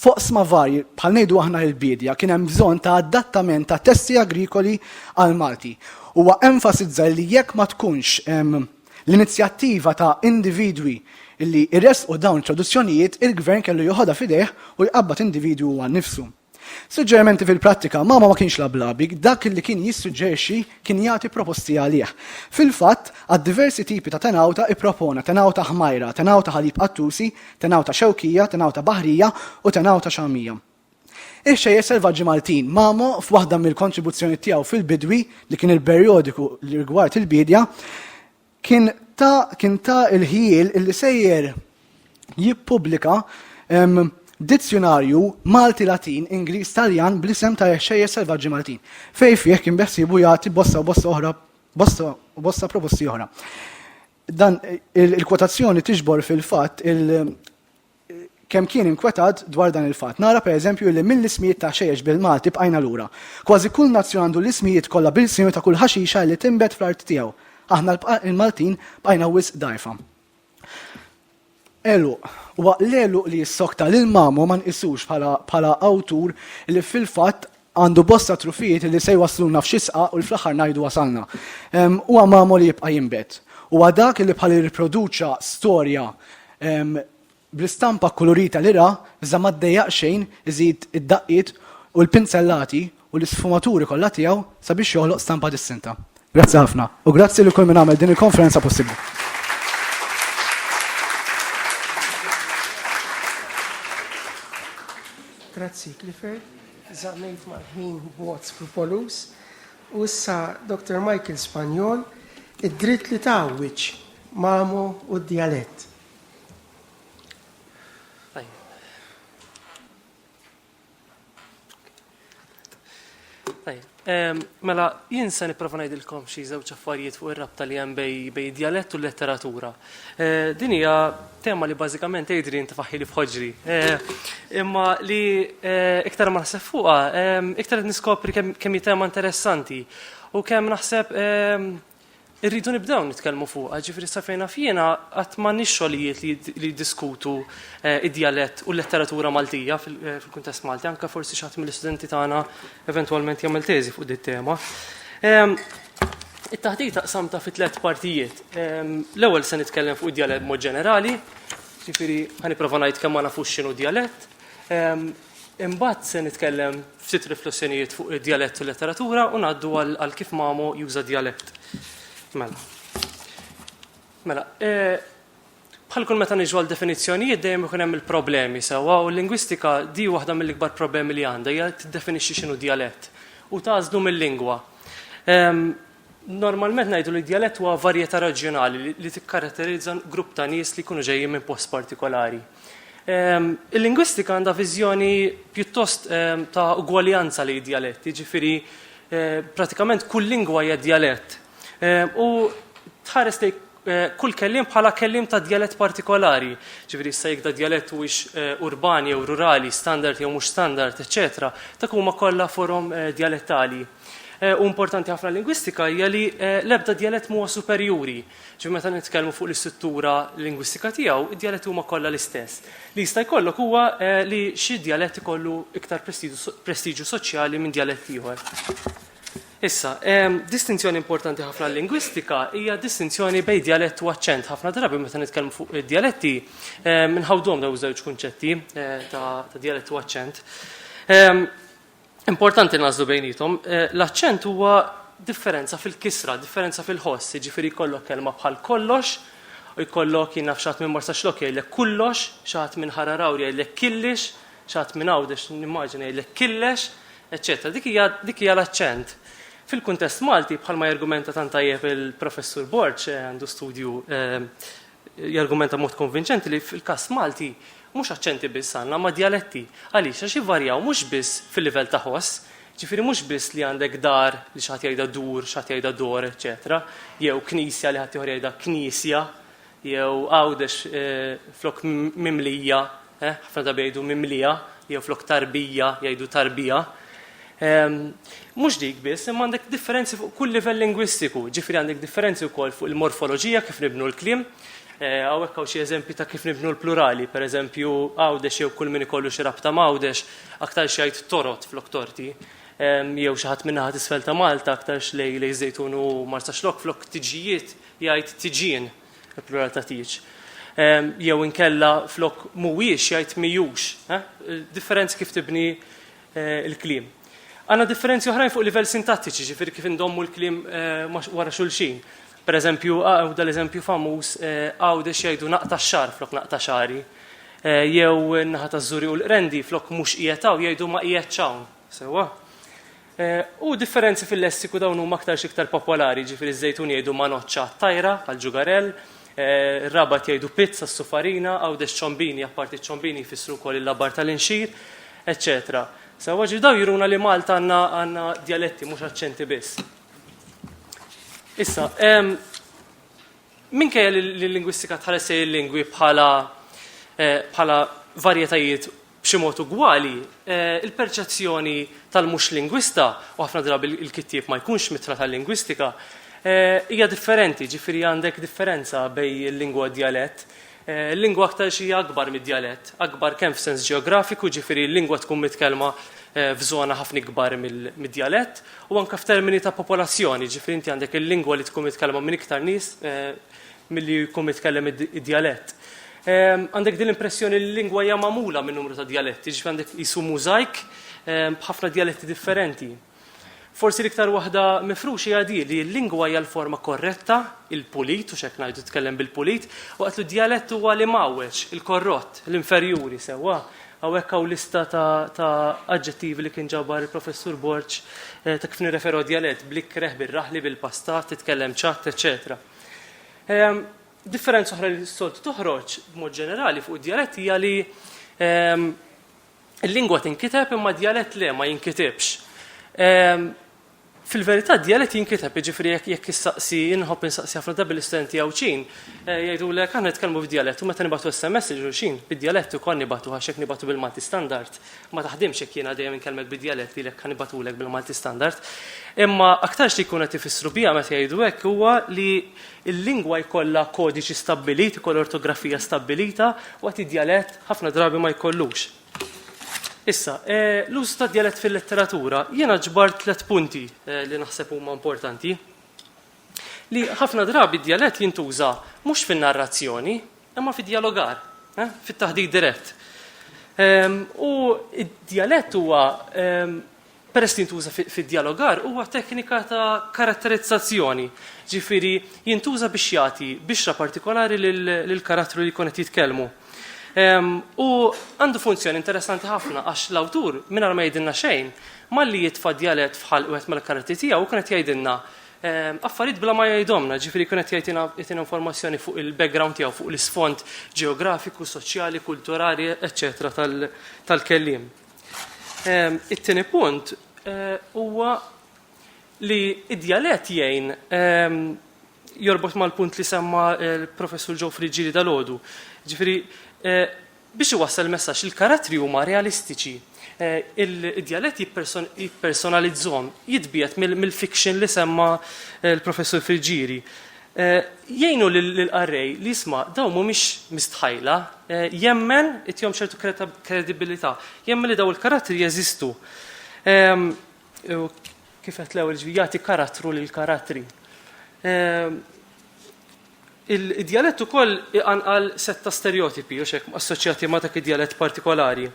foqsma varji bħal ngħidu aħna l-bidja kien hemm bżonn ta' adattament ta' testi agrikoli għal Malti. Huwa enfasizza li jekk ma tkunx L-inizjattiva ta' individwi li jressqu dawn it-traduzzjonijiet il-Gvern kellu joħodha f'idejh u jqabbad individwu huwa nnifsu. Suġġerimenti fil-prattika, Mama ma kienx lablabi, dak li kien jissuġġerixxi kien jagħti proposti għalih. Fil-fatt, għad diversi tipi ta' tenawta ippropona tenawta ħmajra, tenawta ħalib qattusi, tenawta xewkija, tenawta baħrija u tenawta xagħmija. Ix-Xejjex Selvaġġi Maltin, Mamo, f'waħda mill-kontribuzzjonijiet tiegħu fil-Bidwi, li kien il-perjodiku li rigward il-biedja, kien ta' kien ta' il-ħjiel illi sejjer jippubblika dizzjunarju Malti-Latin Ingliż-Taljan bl-isem ta' Ix-Xejjex Selvaġġi Maltin, fejn fih kien beħsiebu jagħti bosta u bosta oħra bosta u bosta proposti oħra. Dan il-kwotazzjoni tiġbor fil-fatt il- kemm kien inkwetat dwar dan il-fatt. Nara pereżempju li mill-ismijiet ta' ħxejjex bil-Malti bqajna lura. Kważi kull nazzjon għandu l-ismijiet kollha bil-Lsinu ta' kull ħaxixa li tinbet fl-art tiegħu. Aħna l-Maltin bqajna wisq dgħajfa. Għeluq. Huwa l-għeluq li jissokta lil Mamo ma nqisux bħala awtur li fil-fatt Għandu bosta trufijiet li se jwassluna f'xi sqaq u l fl-aħħar ngħidu wasalna. Huwa magħmol li jibqa' jinbet. Huwa dak li bħal irriproduċa storja bl-istampa kkulurita li ra, iżda ma ddejjaq xejn iżid id-daqqiet u l-pinzellati u l-isfumaturi kollha tiegħu sabiex joħloq stampa distinta. Grazzi ħafna. U grazzi lil kull min għamel din il-konferenza possibbli. Grazzi, Clifford. Żammejt mal-ħin b'mod skrupoluż u issa Dr. Michael Spagnol id-dritt li tgħawwiġ Mamo u d-djalett. Mela, jien se nipprova ngħidilkom xi żewġ affarijiet fuq ir-rabta li hemm bej bej djalett u l-letteratura. Eh, din hija tema li bażikament Adrian tifaħħili f'ħoġri. Eh, imma li eh, iktar ma naħseb fuqha, iktar qed niskopri kemm hi tema interessanti u kemm naħseb Irridu nibdew nitkellmu fuqha, ġifieri sa fejn naf jiena qatt m'għandniex xogħlijiet li jiddiskutu id-djalett u l-letteratura Maltija fil-kuntest Malti, anke forsi xi ħadd mill-istudenti tagħna eventwalment jagħmel teżi fuq dit-tema. It-taħdita qsamta fi tliet partijiet. L-ewwel se nitkellem fuq id-djalett mod ġenerali, ġifieri ħa nipprova ngħid kemm ma nafux x'inhu djalett. Imbagħad se nitkellem ftit riflessjonijiet fuq id-djalett u l-letteratura u ngħaddu għal kif Mamo juża djalett. Mela. Mela, e, bħal kull meta niġu għal definizzjonijiet dejjem ikun hemm il-problemi sewwa u l-lingwistika di waħda mill-ikbar problemi li għandha hija tiddefinixxi x'inhu djalett u tażlu mill-lingwa. Ehm, Normalment ngħidu li djalett huwa varjetà reġjonali li tikkaratterizza grupp ta' nies li jkunu ġejjin minn post partikolari. Ehm, il-lingwistika għandha viżjoni pjuttost ehm, ta' ugwaljanza li djalett, jiġifieri eh, pratikament kull lingwa hija djalett. Ehm, u tħares li eh, kull kellim bħala kellim ta' djalett partikolari, ġifieri issa jekk da djalett huwiex eh, urban jew rurali, standard jew mhux standard, eċetera, dak huma kollha forom djalettali. eh, u importanti ħafna lingwistika hija li eh, l-ebda djalett huwa superjuri. Ġi meta nitkellmu fuq l-istruttura lingwistika tiegħu, id-djaletti huma kollha l-istess. Li jista' jkollok huwa eh, li xi djalett ikollu iktar prestiġju soċjali minn djalett ieħor. Issa, distinzjoni importanti ħafna lingwistika hija distinzjoni bejn djalett u aċċent. Ħafna drabi meta nitkellmu fuq id-djaletti, minħawdhom daw żewġ kunċetti ta' djalett u aċċent. Importanti nażlu bejnietom, eh, l-aċċent huwa differenza fil-kisra, differenza fil-ħoss, jiġifieri jkollok kelma bħal kollox, u jkollok jien naf xaħat minn Marsaxlok jgħidlek kullox, xaħat minn Ħararawri jgħidlek killix, xaħat minn Għawdex nimmaġina jgħidlek killex, eċċetera. Dik hija dik hija l-aċċent. Fil-kuntest Malti bħalma jargumenta tant tajjeb il-Professur Borġ eh, għandu studju eh, Jargumenta b'mod konvinċenti li fil-każ Malti mhux aċċenti biss għandna ma' djaletti. Għaliex? Għax jivvarjaw mhux biss fil-livell ta' ħoss, jiġifieri mhux biss li għandek dar li xi ħadd jgħidha dur, xi ħadd jgħidha dor, eċċetera jew knisja li ħaddieħor jgħidha kniesja, jew Għawdex flok Mimlija Eh, ħafna drabi jgħidu mimlija, jew flok tarbija, jgħidu tarbija. Ehm, mhux dik biss, imma għandek differenzi fuq kull livell lingwistiku, ġifri għandek differenzi wkoll fuq il-morfoloġija kif nibnu l-klim, eh, għawek għaw xie eżempi ta' kif nibnu l-plurali, per eżempju għawdex jew kull min ikollu xi rabta mawdex, aktar xajt torot flok torti, ehm, jew xi ħadd minnaħat isfel ta' Malta aktar xlej lej żejtun u marsa xlok flok tiġijiet jgħid tiġin. il-plural ta' tieġ. Ehm, jew inkella flok mhuwiex jgħid mijux. Eh? Differenzi kif tibni eh, il-kliem. Għanna differenzi oħrajn fuq livell sintattiċi, ġifir kif indommu l-klim eh, wara xulxin. Per eżempju, għaw dal-eżempju famuż eh, għaw dex jajdu naqta xar flok naqta xari. Eh, jew naħa ta' zuri u l-rendi flok mux ijetaw jajdu ma ijetxawn. Sewa? U differenzi fil-lessiku dawn huma aktar x'iktar popolari, ġifieri ż-Żejtun jgħidu manoċċa għat-tajra għal ġugarell, ir-Rabat jgħidu pizz għas-sufarina, Għawdex ċombini, apparti ċ-ċombini jfissru wkoll il-labar tal-inxir, eċċetera. Sewwa ġifieri dawn juruna li Malta għandna għandna djaletti mhux aċċenti biss. Issa, minkejja li l-lingwistika tħares lejn il-lingwi bħala bħala varjetajiet B'xi mod ugwali, il-perċezzjoni tal-mhux lingwista, u ħafna drabi l-kittieb ma jkunx mitra tal-lingwistika, hija differenti, ġifieri għandek differenza bejn il-lingwa u d-djalett. Il-lingwa aktarx hija akbar mid-djalett, akbar kemm f'sens ġeografiku, ġifieri l-lingwa tkun mitkellma f'żona ħafna ikbar mid-djalett, u anke f'termini ta' popolazzjoni, ġifieri inti għandek il-lingwa li tkun mitkellma minn iktar nies milli jkun mitkellem id-djalett. Għandek din l-impressjoni li l-lingwa hija magħmula minn numru ta' djaletti, ġifieri għandek qisu mużajk b'ħafna djaletti differenti. Forsi l-iktar waħda mifruxa hija di li l-lingwa hija l-forma korretta, il-pulit, u x'hekk ngħidu tkellem bil-pulit, waqt li d-djalett huwa l-imgħawweġ, il-korrott, l-inferjuri, sewwa? Hawnhekk hawn lista ta' aġġettivi li kien ġabar il-Professur Borg ta' kif nirreferu għad-djalett, bl-ikreh, bir-raħli, bil-pastat, titkellem ċatt, eċċetera. Ehm, differenza oħra li s-solt toħroġ b'mod ġenerali fuq id-djalett hija li ehm, il-lingwa tinkiteb imma djalett le ma jinkitibx. Ehm, fil-verità djalett jinkiteb, jiġifieri jekk jekk issaqsi inħobb insaqsi ħafna drabi l-istudenti Għawdxin, eh, jgħidulek aħna nitkellmu f'djalett u meta nibatu SMS ġulxin, bid-djalett ukoll nibatu għax jekk nibatu bil-Malti standard. ma taħdimx jekk jiena dejjem inkellmek bid-djalett lilek ħa nibatulek bil-Malti standard. Imma aktarx li jkun qed ifissru biha meta jgħidu hekk huwa li l-lingwa jkollha kodiċi stabbilit, ikoll ortografija stabbilita, waqt id-djalett ħafna drabi ma jkollux. Issa, e, l-użu ta' djalett fil-letteratura, jiena ġbar tliet punti e, li naħseb huma importanti. li ħafna drabi d-djalett jintuża mhux fin-narrazzjoni, imma fid-djalogar, eh, fit-taħdit dirett. Ehm, u d-djalett huwa ehm, peress li jintuża fid-djalogar huwa teknika ta' karatterizzazzjoni, ġifiri jintuża biex jagħti bixra partikolari lill-karattru li jkun qed jitkellmu. Ehm, u għandu funzjoni interessanti ħafna għax l-awtur mingħajr ma jgħidilna xejn, malli jitfa' djalett fħal wieħed mal-karattri tiegħu kien qed jgħidilna affarijiet bla ma jgħidhomna, ġifieri kien qed jgħidina jtina informazzjoni fuq il-background tiegħu, fuq l-isfond ġeografiku, soċjali, kulturali, eċċetera tal-kelliem. It-tieni punt huwa li id-djalett jgħin jorbot mal-punt li semma l-Professur Ġew Friġġieri dal-għodu. Ġifieri Biex iwassal il-messaġġ, il-karattri huma realistiċi. Id-djalett jippersonalizzhom, jitbiegħed mill-fiction li semma l-Professur Friggieri. Jgħinu lill-qarrej li jisma' dawn mhumiex mistħajla, jemmen, itihom ċertu kredibilità, jemmen li dawn il-karattri jeżistu. Kif qed l-ewwel ġviri, jagħti karattru lill-karattri. Id-djalett ukoll iqanqal sett ta' sterjotipi, hux hekk, assoċjati ma' dak id-djalett partikolari.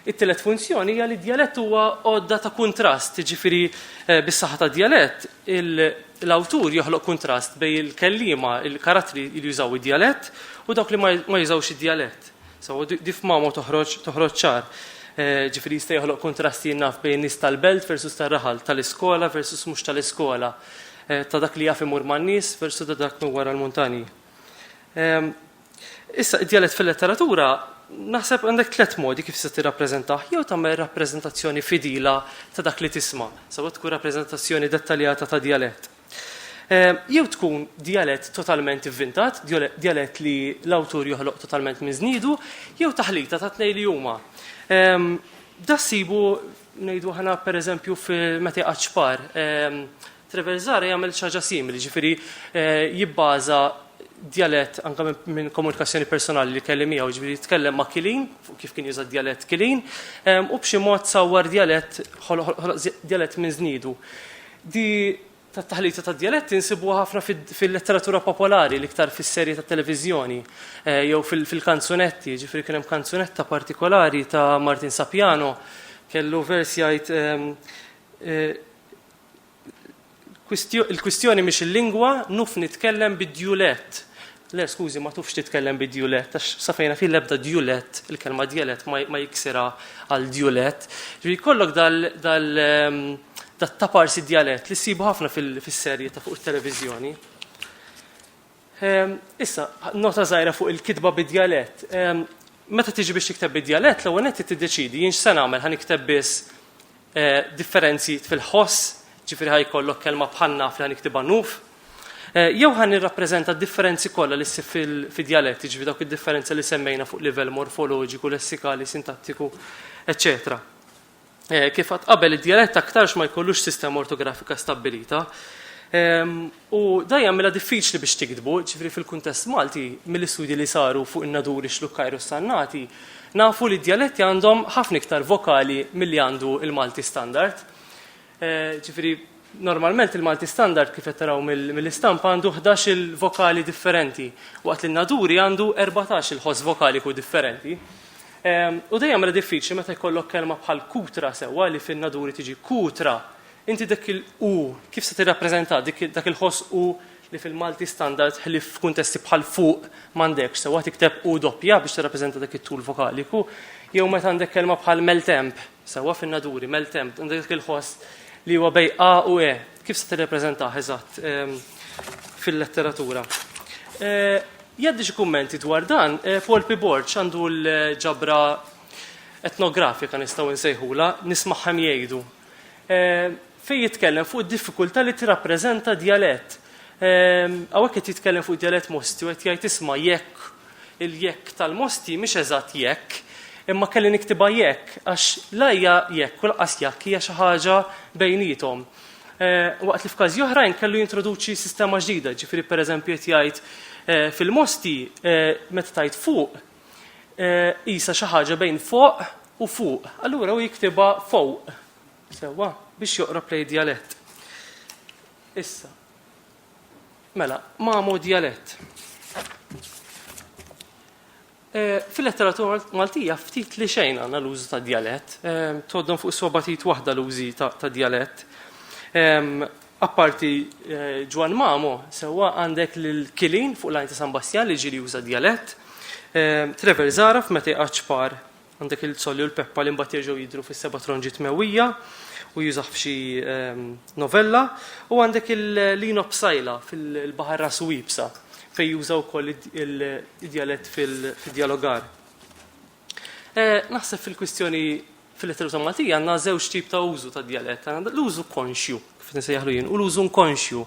It-tielet funzjoni hija li d-djalett huwa għodda ta' kuntrast, jiġifieri eh, bis-saħħa tad-djalett l-awtur joħloq kuntrast bejn il-kelliema, il-karattri li jużaw id-djalett u dawk li ma jużawx id-djalett. So, dif mamo toħroġ toħroġ ċar. Eh, ġifieri jista' joħloq kuntrast jinnaf bejn nies tal-belt versus tar-raħal, tal-iskola versus mhux tal-iskola. Eh, ta' dak li jaf imur man nies versu ta' dak minn wara l-muntani. Ehm, issa, id-dialet fil-letteratura, naħseb għandek tlet modi kif se tirrappreżentah, jew tagħmel rappreżentazzjoni fidila ta' dak li tisma', sawa tkun rappreżentazzjoni dettaljata ta' dialett. Ehm, jew tkun dialett totalment ivvintat, dialett li l-awtur joħloq totalment minn żniedu, jew taħlita ta' tnej li huma. Ehm, Dassibu Ngħidu aħna pereżempju meta jqgħad xpar, ehm, Treverzare jagħmel xi ħaġa simili, ġifieri eh, jibbaża djalett anke minn komunikazzjoni personali li kelli miegħu, ġifieri jitkellem ma' Kilin, kif kien juża djalett Kilin, ehm, u b'xi mod sawwar djalett djalett minn żniedu. Di tat-taħlita tad-djaletti nsibuha ħafna fil-letteratura popolari, l-iktar fis-serje tat-televiżjoni jew fil-kanzunetti. Jiġifieri kien hemm kanzunetta partikolari ta' Martin Sapiano kellu vers jgħid ehm, eh, il-kwistjoni mhix il-lingwa, nuf nitkellem bid-djulett. Le, skużi, ma tufx titkellem bi djulett, għax sa fejn naf jien l-ebda djulett, il-kelma djalett ma, ma jiksirha għal djulett. Ġifieri jkollok dal, dal, ehm, dat taparsi djalett li ssibu ħafna fis-serje ta' fuq it-televiżjoni. Ehm, issa, nota żgħira fuq il-kitba bid-djalett. Ehm, meta tiġi biex tikteb bid-djalett, l-ewwel qed tiddeċidi jien x'se nagħmel ħa nikteb biss eh, differenzi fil-ħoss, ġifiri ħaj kollok kelma bħal naf li ħan iktiba nuf, eh, jew ħan nirrappreżenta differenzi kollha li ssib fil-dialett, ġifiri dawk id-differenza li semmejna fuq livell morfoloġiku, lessikali, sintattiku, eccetera. Eh, kif għat qabel id-dialett aktarx ma jkollux sistema ortografika stabilita, ehm, U dan jagħmilha diffiċli biex tiktbu, ġifieri fil-kuntest Malti, mill-istudji li saru fuq in-Naduri, x-Xlukkajr u s-Sannati, nafu li d-djaletti għandhom ħafna iktar vokali milli għandu l-Malti Standard. Ġifieri, normalment il-Malti Standard, kif qed taraw mill-istampa, għandu ħdax-il vokali differenti, waqt li n-Naduri għandu erbatax-il ħoss vokaliku differenti. U dan jagħmilha diffiċli meta jkollok kelma bħal kutra sewwa li fin-Naduri tiġi kutra Inti dik il u kif se tirrappreżentah dik dak il-ħoss u li fil-Malti standard ħlief f'kuntesti bħal fuq m'għandekx sewwa tikteb u doppja biex tirrappreżenta dak it-tul vokaliku jew meta għandek kelma bħal meltemp sewwa fin-naduri meltemp għandek dak il-ħoss li huwa bej a u e kif se tirrappreżentah eżatt ehm, fil-letteratura. Eh, jaddi xi kummenti dwar dan, eh, Paul P. Borg għandu l-ġabra etnografika nistgħu nsejħula, nismaħħem jgħidu fejn jitkellem fuq id-diffikultà li tirrappreżenta djalett. Hawnhekk qed jitkellem fuq djalett Mosti u qed jgħid isma' jekk il-jekk tal-Mosti mhix eżatt jekk, imma kelli niktibha jekk għax la hija jekk u lanqas jakk hija xi ħaġa bejniethom. Waqt li f'każi oħrajn kellu jintroduċi sistema ġdida, ġifieri pereżempju qed jgħid fil-Mosti meta tgħid fuq Isa xi ħaġa bejn foq u fuq. Allura u jiktibha fuq. Sewwa, biex joqrob lej djalett. Issa. Mela, mamu djalett. Eh, fil-letteratura Maltija ftit li xejn għandna l-użu ta' djalett, eh, toddon fuq sobatit waħda l-użi ta' djalett. Ehm, Apparti Ġwann Mamo, sewwa għandek lil Kilin fuq l-għajn ta' San Bastjan li ġieli juża djalett, Trevor Żgħaraf meta jqgħad xpar, għandek lil Zolli u l-Peppa li mbagħad jerġgħu jidhru fis-Seba' Tronġiet Mewwija u jużah f'xi novella, u għandek Lino Psaila fil-Baħar Ras u Iebsa fejn juża wkoll id-djalett fid-djalogar. Eh, naħseb fil-kwistjoni fil-letteratura Maltija għandna żewġ tip ta' użu ta' djalett, għandna l-użu konxju, kif nisejjaħlu jien, u l-użu nkonxju.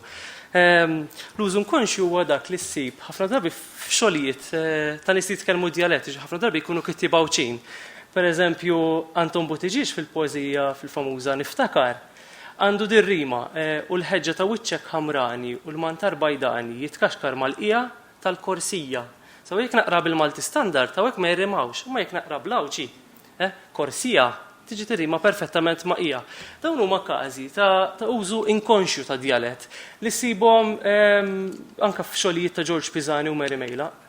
Ehm, l-użu nkonxju huwa dak li ssib ħafna drabi f'xogħlijiet eh, ta' nies li jitkellmu djalett, ħafna drabi jkunu kittieb għawċin. Per eżempju, Anton Butiġiex fil-poezija fil-famuża Niftakar, għandu dir-rima eh, u l-ħeġġa ta' wiċċek ħamrani u l-mantar bajdani jitkaxkar mal-qija tal-korsija. Sew jekk naqra bil-Malti Standard hawnhekk ma jirrimawx, imma jekk naqra bl-Għawdxi, eh, korsija, tiġi tirrima perfettament ma' hija. Dawn huma każi ta' ta' użu inkonxju tad-djalett li ssibhom anke f'xogħlijiet ta' Ġorġ Pisani u Mary Mejlaq.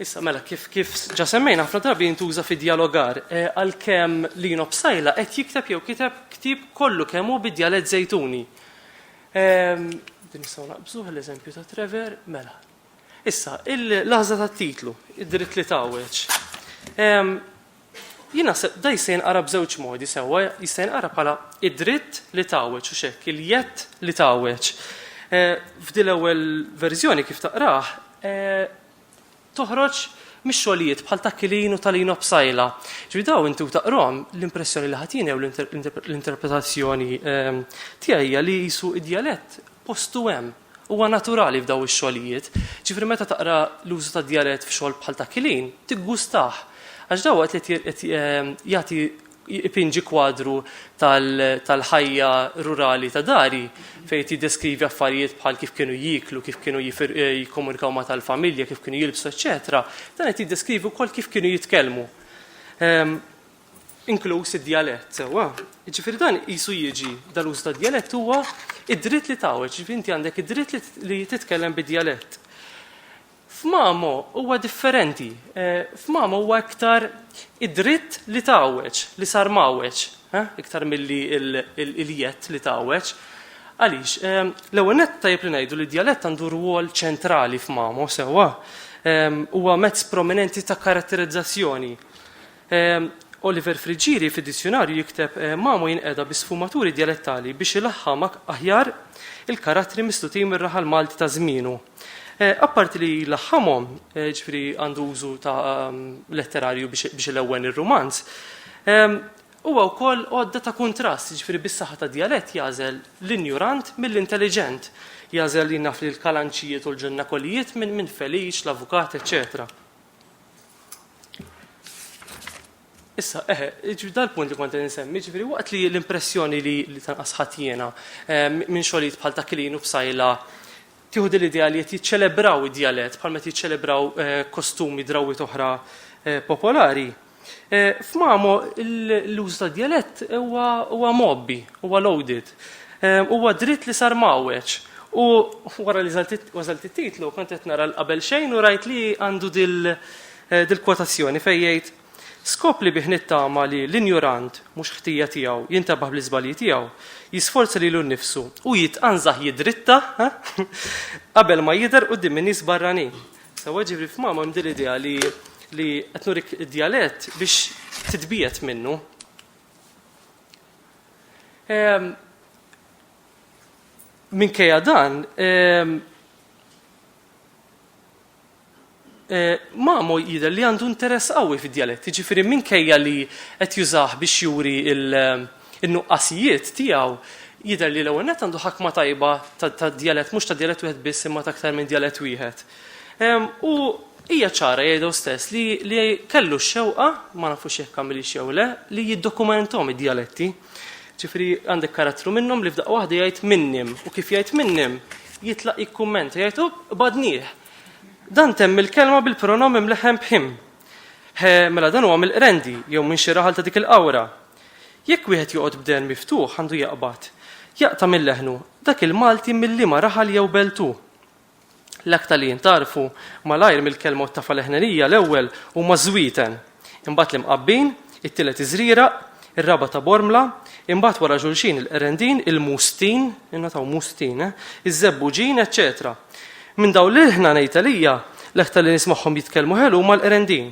Issa mela kif kif ġa semmejna ħafna drabi jintuża fi djalogar, eh, għalkemm Lino Psaila qed jikteb jew kiteb ktieb kollu kemm hu bid-djalett Żejtuni. Ehm, din nistgħu naqbżuh l-eżempju ta' Trevor, mela. Issa, il-laħża tat-titlu, id-dritt li tawweġ. Ehm, Jina da jista' jinqara b'żewġ modi sewwa, jista' jinqara bħala id-dritt li tawweġ u xekk, il-jett li tawweġ. Eh, f'dil ewwel verżjoni kif taqrah, eh, toħroġ mix-xogħlijiet bħal ta' Kilin u ta' Lino Psaila. Ġifieri dawn inti u taqrahom l-impressjoni li ħadd jieni jew l-interpretazzjoni ehm, tiegħi hija li jisu id-djalett postu hemm huwa naturali f'daw ix-xogħlijiet. Ġifri meta taqra l-użu ta' djalett f'xogħol bħal ta' kilin, tiggustah. Għax daw qed ehm, jagħti Ipinġi kwadru tal-ħajja rurali ta' dari fejn qed jiddeskrivi affarijiet bħal kif kienu jieklu, kif kienu jikkomunikaw ma' tal-familja, kif kienu jilbsu, eċċetera. Dan qed jiddeskrivi wkoll kif kienu jitkellmu. Ehm, inkluż id-djalett, sewwa. Ġifieri dan qisu jiġi dal-użu tad-djalett huwa id-dritt li tgħawweġ, ġifieri inti għandek id-dritt li titkellem bid-djalett. F'Mamo huwa differenti. F'Mamo huwa iktar id-dritt li tgħawweġ, li sar mgħawweġ, iktar milli l-jedd li tgħawweġ. Għaliex? L-ewwel nett tajjeb li ngħidu li d-djalett għandu rwol ċentrali f'Mamo, sewwa? Huwa mezz prominenti ta' karatterizzazzjoni. Oliver Friggieri fid-dizzjunarju jikteb Mamo jinqeda bi sfumaturi djalettali biex ilaħħam aħjar il-karattri mislutin mir-raħal Malti ta' żmienu. Apparti li jlaħħamhom, ġifieri għandu użu ta' letterarju biex ilewwen ir-rumanz, huwa wkoll għodda ta' kuntrast, ġifieri bis-saħħa tad-djalett jagħżel l-injurant mill-intelliġent, jagħżel jien naf li l-kalanċijiet u l-ġunnakolijiet minn feliċ, l-avukat, eċċetera. Issa, eħe, ġifieri dal-punt li kont qed insemmi, ġifieri waqt li l-impressjoni li li tanqas ħadd jiena eh, minn xogħlijiet bħal ta' Kilin u Bsajla tieħu din l-idea li qed jiċċelebraw id-djalett bħal meta jiċċelebraw eh, kostumi drawwiet oħra eh, popolari. F'Mamo l-użu tad-djalett huwa mgħobbi, huwa loaded. Huwa dritt li sar mgħawweġ. U wara li wasalt it-titlu kont qed nara 'l qabel xejn u rajt li għandu dil-kwotazzjoni fejn jgħid, Skop li bih nittama li l-injurant, mhux ħtija tiegħu, jintebaħ bl-iżbalji tiegħu, jisforza lilu nnifsu u jitqanżaħ jidritta qabel ma jidher quddiem in-nies barranin. Sewa ġibri f'mama hemm din idea li li qed nurik id-djalett biex titbiet minnu. Ehm, minkejja dan, ehm, Eh, Mamo jidher li għandu interess qawwi fid-dialett, jiġifieri minkejja li qed jużah biex juri il- in-nuqqasijiet tiegħu, jidher li l-ewwel nett għandu ħakma tajba ta' djalett, mhux ta' djalett wieħed biss imma ta' aktar minn djalett wieħed. U hija ċara, jgħid hu stess, li kellu x-xewqa, ma nafux jekk għamilhiex jew le, li jiddokumenthom id-djaletti. Ġifieri għandek karattru minnhom li f'daqqa waħda jgħid minnhom u kif jgħid minnhom jitlaq jikkummenta jgħid hu badnih. Dan temm il-kelma bil-pronom imleħħen b'him. Mela dan huwa mill-qrendi jew minn xi raħal ta' dik il-qawra. Jekk wieħed joqgħod b'dehn miftuħ għandu jaqbad, jaqta' minn leħnu, dak il-Malti minn liema raħal jew belt hu. L-aktar li jintgħarfu malajr mill-kelma u t-tafa leħnenija l-ewwel huma ż-żwieten, imbagħad l-imqabbin, it-tielet iż-żrieraq, ir-raba' ta' Bormla, imbagħad wara xulxin il-qrendin, il-mustin, ingħataw mustin, eh, iż-żebbuġin, eċċetera Minn dawn l-ilħna ngħid għalija l-aktar li nismagħhom jitkellmu ħelu huma l-qrendin.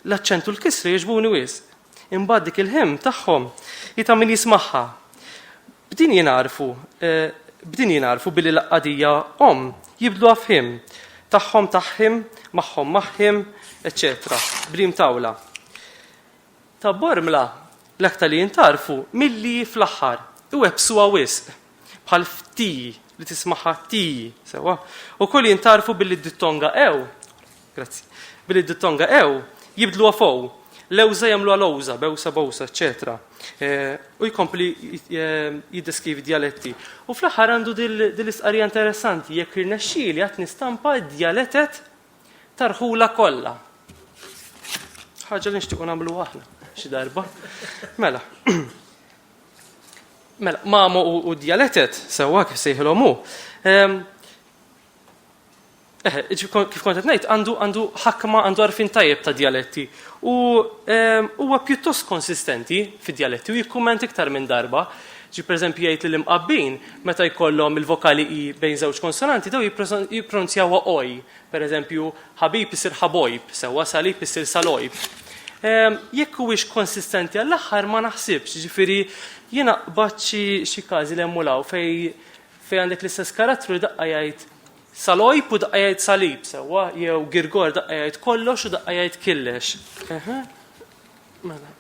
L-aċċent u l-kisri jogħġbuni wisq. Imbagħad dik il-hymn tagħhom hi ta' min jismagħha. B'din jingħarfu, eh, b'din jingħarfu billi l-qadija omm jibdluha f'hymn tagħhom tagħhim, magħhom magħhim, eċċetera, brim tawla. Ta' Bormla l-aktar li jintarfu milli fl-aħħar iwebsuha wisq bħal fti li tismaħa ti, sewa, u koll jintarfu billi d-dittonga ew Grazzi. Billi d-dittonga ew jibdluha f'ow, lewża jagħmluha lowża, bewsa bowsa, eċċetera. U jkompli jiddeskrivi djaletti. U fl-aħħar għandu dil-istqarrija interessanti jekk irnexxieli għad nistampa d-djaletet tarħula kollha. Ħaġa li nixtiequ nagħmlu aħna xi darba. Mela. Mela, mamu u djaletet, sewa kif sejħilhom hu. Ehm, Eħe, kif kont qed ngħid, għandu għandu ħakma għandu għarfien tajjeb ta' djaletti. U ehm, huwa pjuttost konsistenti fid-djaletti u jikkumment iktar minn darba. Ġi pereżempju jgħid li l-imqabbin meta jkollhom il-vokali i bejn żewġ konsonanti daw jippronzjawha oj. Pereżempju, ħabib isir ħabojb, sewwa salib isir salojb. Ehm, jekk huwiex konsistenti għall-aħħar ma naħsibx, ġifieri jiena qbad xi każi li hemm fej Fejn għandek l-istess karattru li daqqa jgħid Salojb u daqqa jgħid Salib, sewwa, jew Girgor daqqa jgħid kollox u daqqa jgħid killex. Eħe. Mela.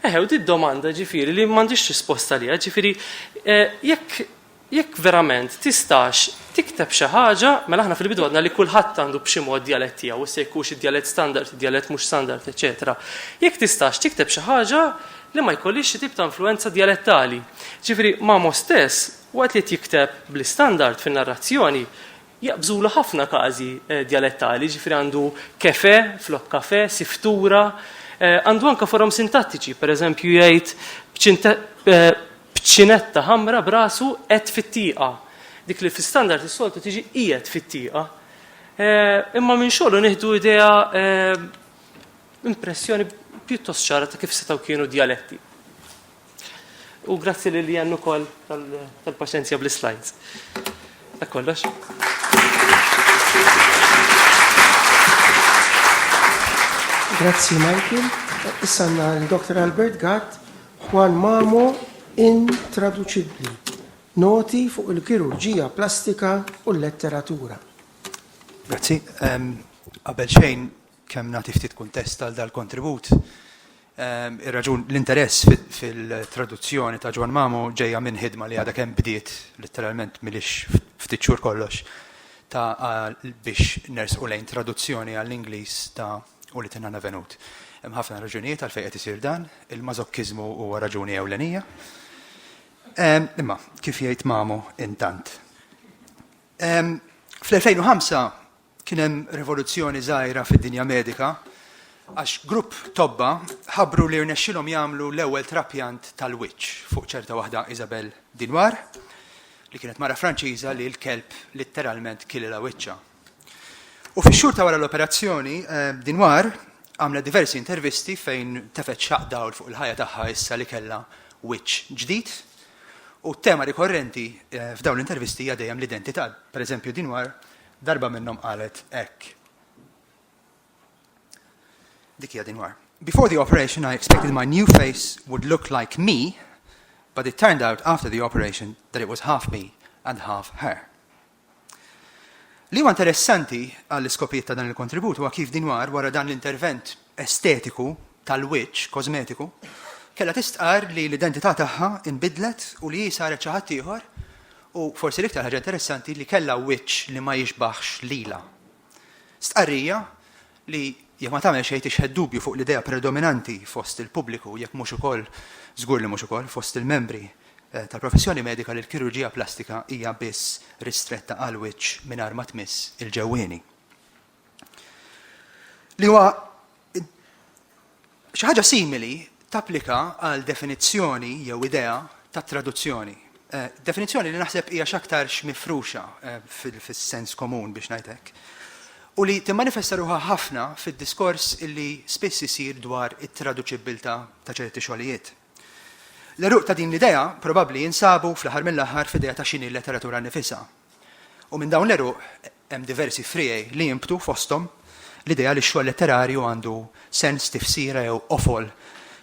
Eħe, u di domanda ġifiri li m'għandix risposta li ġifiri eh, jekk jekk verament tistax tikteb xi ħaġa, mela aħna fil-bidu għadna li kulħadd għandu b'xi mod dialett tiegħu, se jkunx id-dialett standard, id-dialett mhux standard, eċetera. Jekk tistax tikteb xi ħaġa li ma jkollhiex xi tip ta' influwenza djalettali. Ġifieri Mamo stess, waqt li qed jikteb bl-istandard fin-narrazzjoni, jaqbżulu ħafna każi djalettali, ġifieri għandu kefè flok kafè, siftura, għandu anke forom sintattiċi, pereżempju jgħid b'ċinetta ħamra b'rasu qed fit-tieqa, dik li fl-istandard is-soltu tiġi qiegħed fit-tieqa. Imma minn xogħlu nieħdu idea impressjoni pjuttost ċara ta' kif setgħu kienu djaletti. U grazzi li li għannu kol tal-paċenzja bl-slides. Dak kollox. Grazzi Michael. Issa għanna l-Dr. Albert Gatt, Juan Mamo intraduċibli. Noti fuq il-kirurġija plastika u l-letteratura. Grazzi. Qabel xejn, Kemm nagħti ftit kuntest għal dal-kontribut, ir-raġun, l-interess fil-traduzzjoni ta' Ġwann Mamu ġejja minn ħidma li għadha kemm bdiet, litteralment m'ilhiex ftit xhur kollox, ta' biex nersqu lejn traduzzjoni għall-Ingliż ta' U li tingħanna Venut. Hemm ħafna raġunijiet għalfejn qed isir dan, il-mażokkiżmu huwa raġuni ewlenija. Imma, kif jgħid Mamu, intant. Fl-2005 Kien hemm rivoluzzjoni żgħira fid-dinja medika għax grupp tobba ħabbru li rnexxilhom jagħmlu l-ewwel trapjant tal-wiċċ fuq ċerta waħda Isabelle Dinoir, li kienet mara Franċiża li l-kelb litteralment kielilha wiċċha. U fix-xhur ta' wara l-operazzjoni, Dinoir għamlet diversi intervisti fejn tefgħet xaqq dawl fuq il-ħajja tagħha issa li kellha wiċċ ġdid. U t-tema rikorrenti f'dawn l-intervisti hija dejjem l-identità. Pereżempju, Dinoir Darba minnhom qalet hekk. Dik hija Dinwar. Before the operation I expected my new face would look like me, but it turned out after the operation that it was half me and half her. Li huwa interessanti għall-iskopijiet ta' dan il-kontribut huwa kif dinwar wara dan l-intervent estetiku tal-wiċċ kosmetiku kellha tistqar li l-identità tagħha inbidlet u li hi saret xi ħadd ieħor U forsi l-iktar ħaġa interessanti li kellha wiċċ li ma jixbaħx lilha. Stqarrija li jekk ma tagħmel xejn tixħet dubju fuq l-idea predominanti fost il-pubbliku jekk mhux ukoll, żgur li mhux ukoll, fost il-membri eh, tal-professjoni medika li l-kirurġija plastika hija biss ristretta għal wiċċ mingħajr ma tmiss il-ġewwieni. li huwa xi ħaġa simili tapplika għal definizzjoni jew idea ta' traduzzjoni. Eh, definizzjoni li naħseb hija x'aktar mifruxa eh, fis-sens komun biex ngħidlek. U li timmanifesta ruħha ħafna fid-diskors illi spiss isir dwar it-traduċibbiltà ta' ċerti xogħlijiet. L-eruq ta' din l-idea probabbli jinsabu fl-aħħar mill-aħħar f'idea ta' xini letteratura nifisa, U minn dawn l-għeruq hemm diversi friegħi li jinbtu fosthom l-idea li x-xogħol letterarju għandu sens, tifsira jew qofol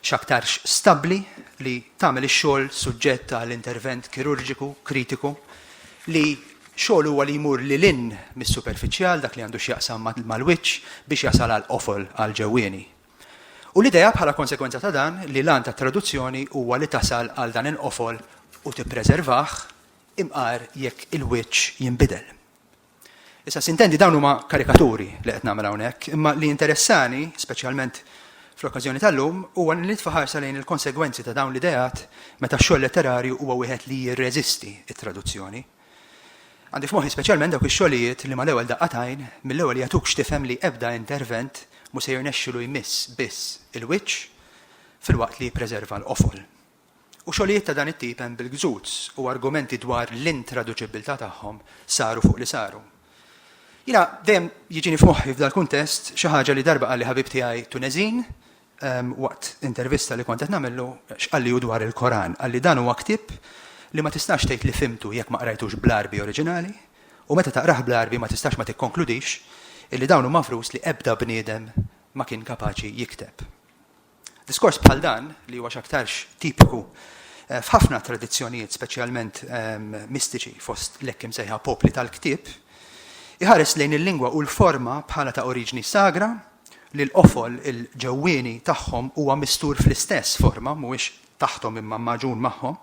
x'aktarx stabbli li tagħmel ix-xogħol suġġett għal intervent kirurġiku, kritiku, li xogħol huwa li jmur lil hinn mis-superfiċjal, dak li għandu x'jaqsam mal-wiċċ, biex jasal għall-qofol, għall-ġewwieni. U l-idea, bħala konsegwenza ta' dan, li l-għan tat-traduzzjoni huwa li tasal għal dan il-qofol u tippreservah, imqar jekk il-wiċċ jinbidel. Issa, sintendi dawn huma karikaturi li qed nagħmel hawnhekk, imma li jinteressani, speċjalment fl-okkażjoni tal-lum, huwa li nitfa' ħarsa lejn il-konsegwenzi ta' dawn l-ideat meta x-xogħol letterarju huwa wieħed li jirreżisti t-traduzzjoni. Għandi f'moħħi speċjalment dawk ix-xogħlijiet li mal-ewwel daqqa tajn mill-ewwel jagħtuk x'tifhem li ebda intervent mhu se jirnexxilu jmiss biss il-wiċċ filwaqt li jippreserva l-qofol. u xogħlijiet ta' dan it-tip hemm bil-gzuz u argumenti dwar l-intraduċibbiltà tagħhom saru fuq li saru. Jiena dejjem jiġini f'moħħi f'dal-kuntest xi ħaġa li darba qalli ħabib tiegħi Tuneżin waqt intervista li kont qed nagħmillu x'qalli hu dwar il-Koran. Qalli dan huwa ktieb li ma tistax tgħid li fhimtu jekk ma qrajtux bl-Għarbi oriġinali u meta taqrah bl-Għarbi ma tistax ma tikkonkludix illi dawn huma frus li ebda bniedem ma kien kapaċi jikteb. Diskors bħal dan, li huwa x'aktarx tipiku f'ħafna tradizzjonijiet speċjalment mistiċi fost l-hekk imsejħa popli tal-ktieb, iħares lejn il-lingwa u l-forma bħala ta' oriġni sagra, li l-qofol, il-ġewwieni, tagħhom huwa mistur fl-istess forma, mhuwiex taħthom imma magħġun magħhom,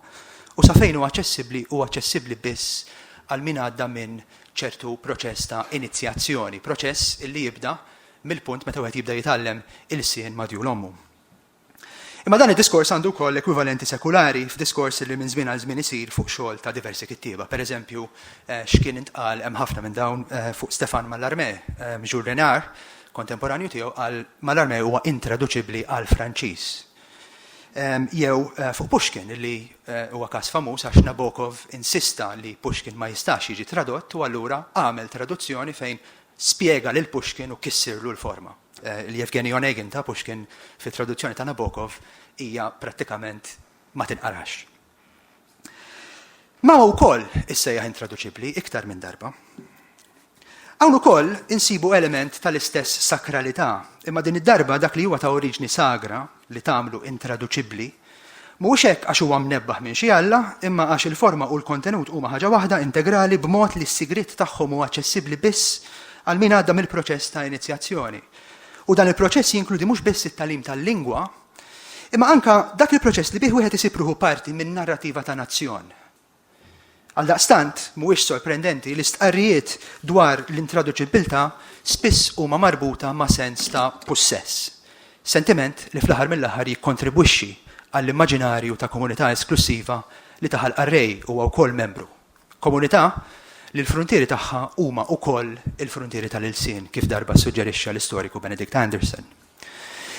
u sa fejn hu aċċessibbli hu aċċessibbli biss għal min għadda minn ċertu proċess ta' inizjazzjoni, proċess li jibda mill-punt meta wieħed jibda jitgħallem ilsien madjul ommu. Imma dan id-diskors għandu wkoll ekwivalenti sekulari f'diskors li minn żmien għal żmien isir fuq xogħol ta' diversi kittieba. Per eżempju, eh, x'kien intqal hemm ħafna minn dawn eh, fuq Stefan Mallarmé, eh, Jules Renard, kontemporanju tiegħu għal Mallarmé huwa intraduċibbli għal Franċiż. Ehm, jew fuq Pushkin li huwa każ famuż għax Nabokov insista li Pushkin ma jistax jiġi tradott u allura għamel traduzzjoni fejn spjega lil Pushkin u kissirlu l-forma. Il-Yevgeny Onegin ta' Pushkin fit-traduzzjoni ta' Nabokov hija prattikament ma tinqarax. Mao wkoll issejjaħ intraduċibbli iktar minn darba. Hawn ukoll insibu element tal-istess sakralità, imma din id-darba dak li huwa ta' oriġni sagra li tagħmlu intraduċibbli Mhuwiex hekk għax huwa mnebbaħ minn xi alla, imma għax il-forma u l-kontenut huma ħaġa waħda, integrali, b'mod li s-sigriet tagħhom huwa aċċessibbli biss għal min għadda mill-proċess ta' inizjazzjoni. U dan il-proċess jinkludi mhux biss it-tagħlim tal-lingwa, imma anke dak il-proċess li bih wieħed isib ruħu parti minn narrativa ta' nazzjon. Għaldaqstant, mhuwiex sorprendenti li stqarrijiet dwar l-intraduċibbiltà spiss huma marbuta ma' sens ta' pussess, sentiment li fl-aħħar mill-aħħar jikkontribwixxi għall-immaġinarju ta' komunità esklussiva li ta' ħalqha r-Re huwa wkoll membru, komunità li l-fruntieri tagħha huma wkoll il-fruntieri tal-ilsien, kif darba ssuġġerixxa l-istoriku Benedict Anderson.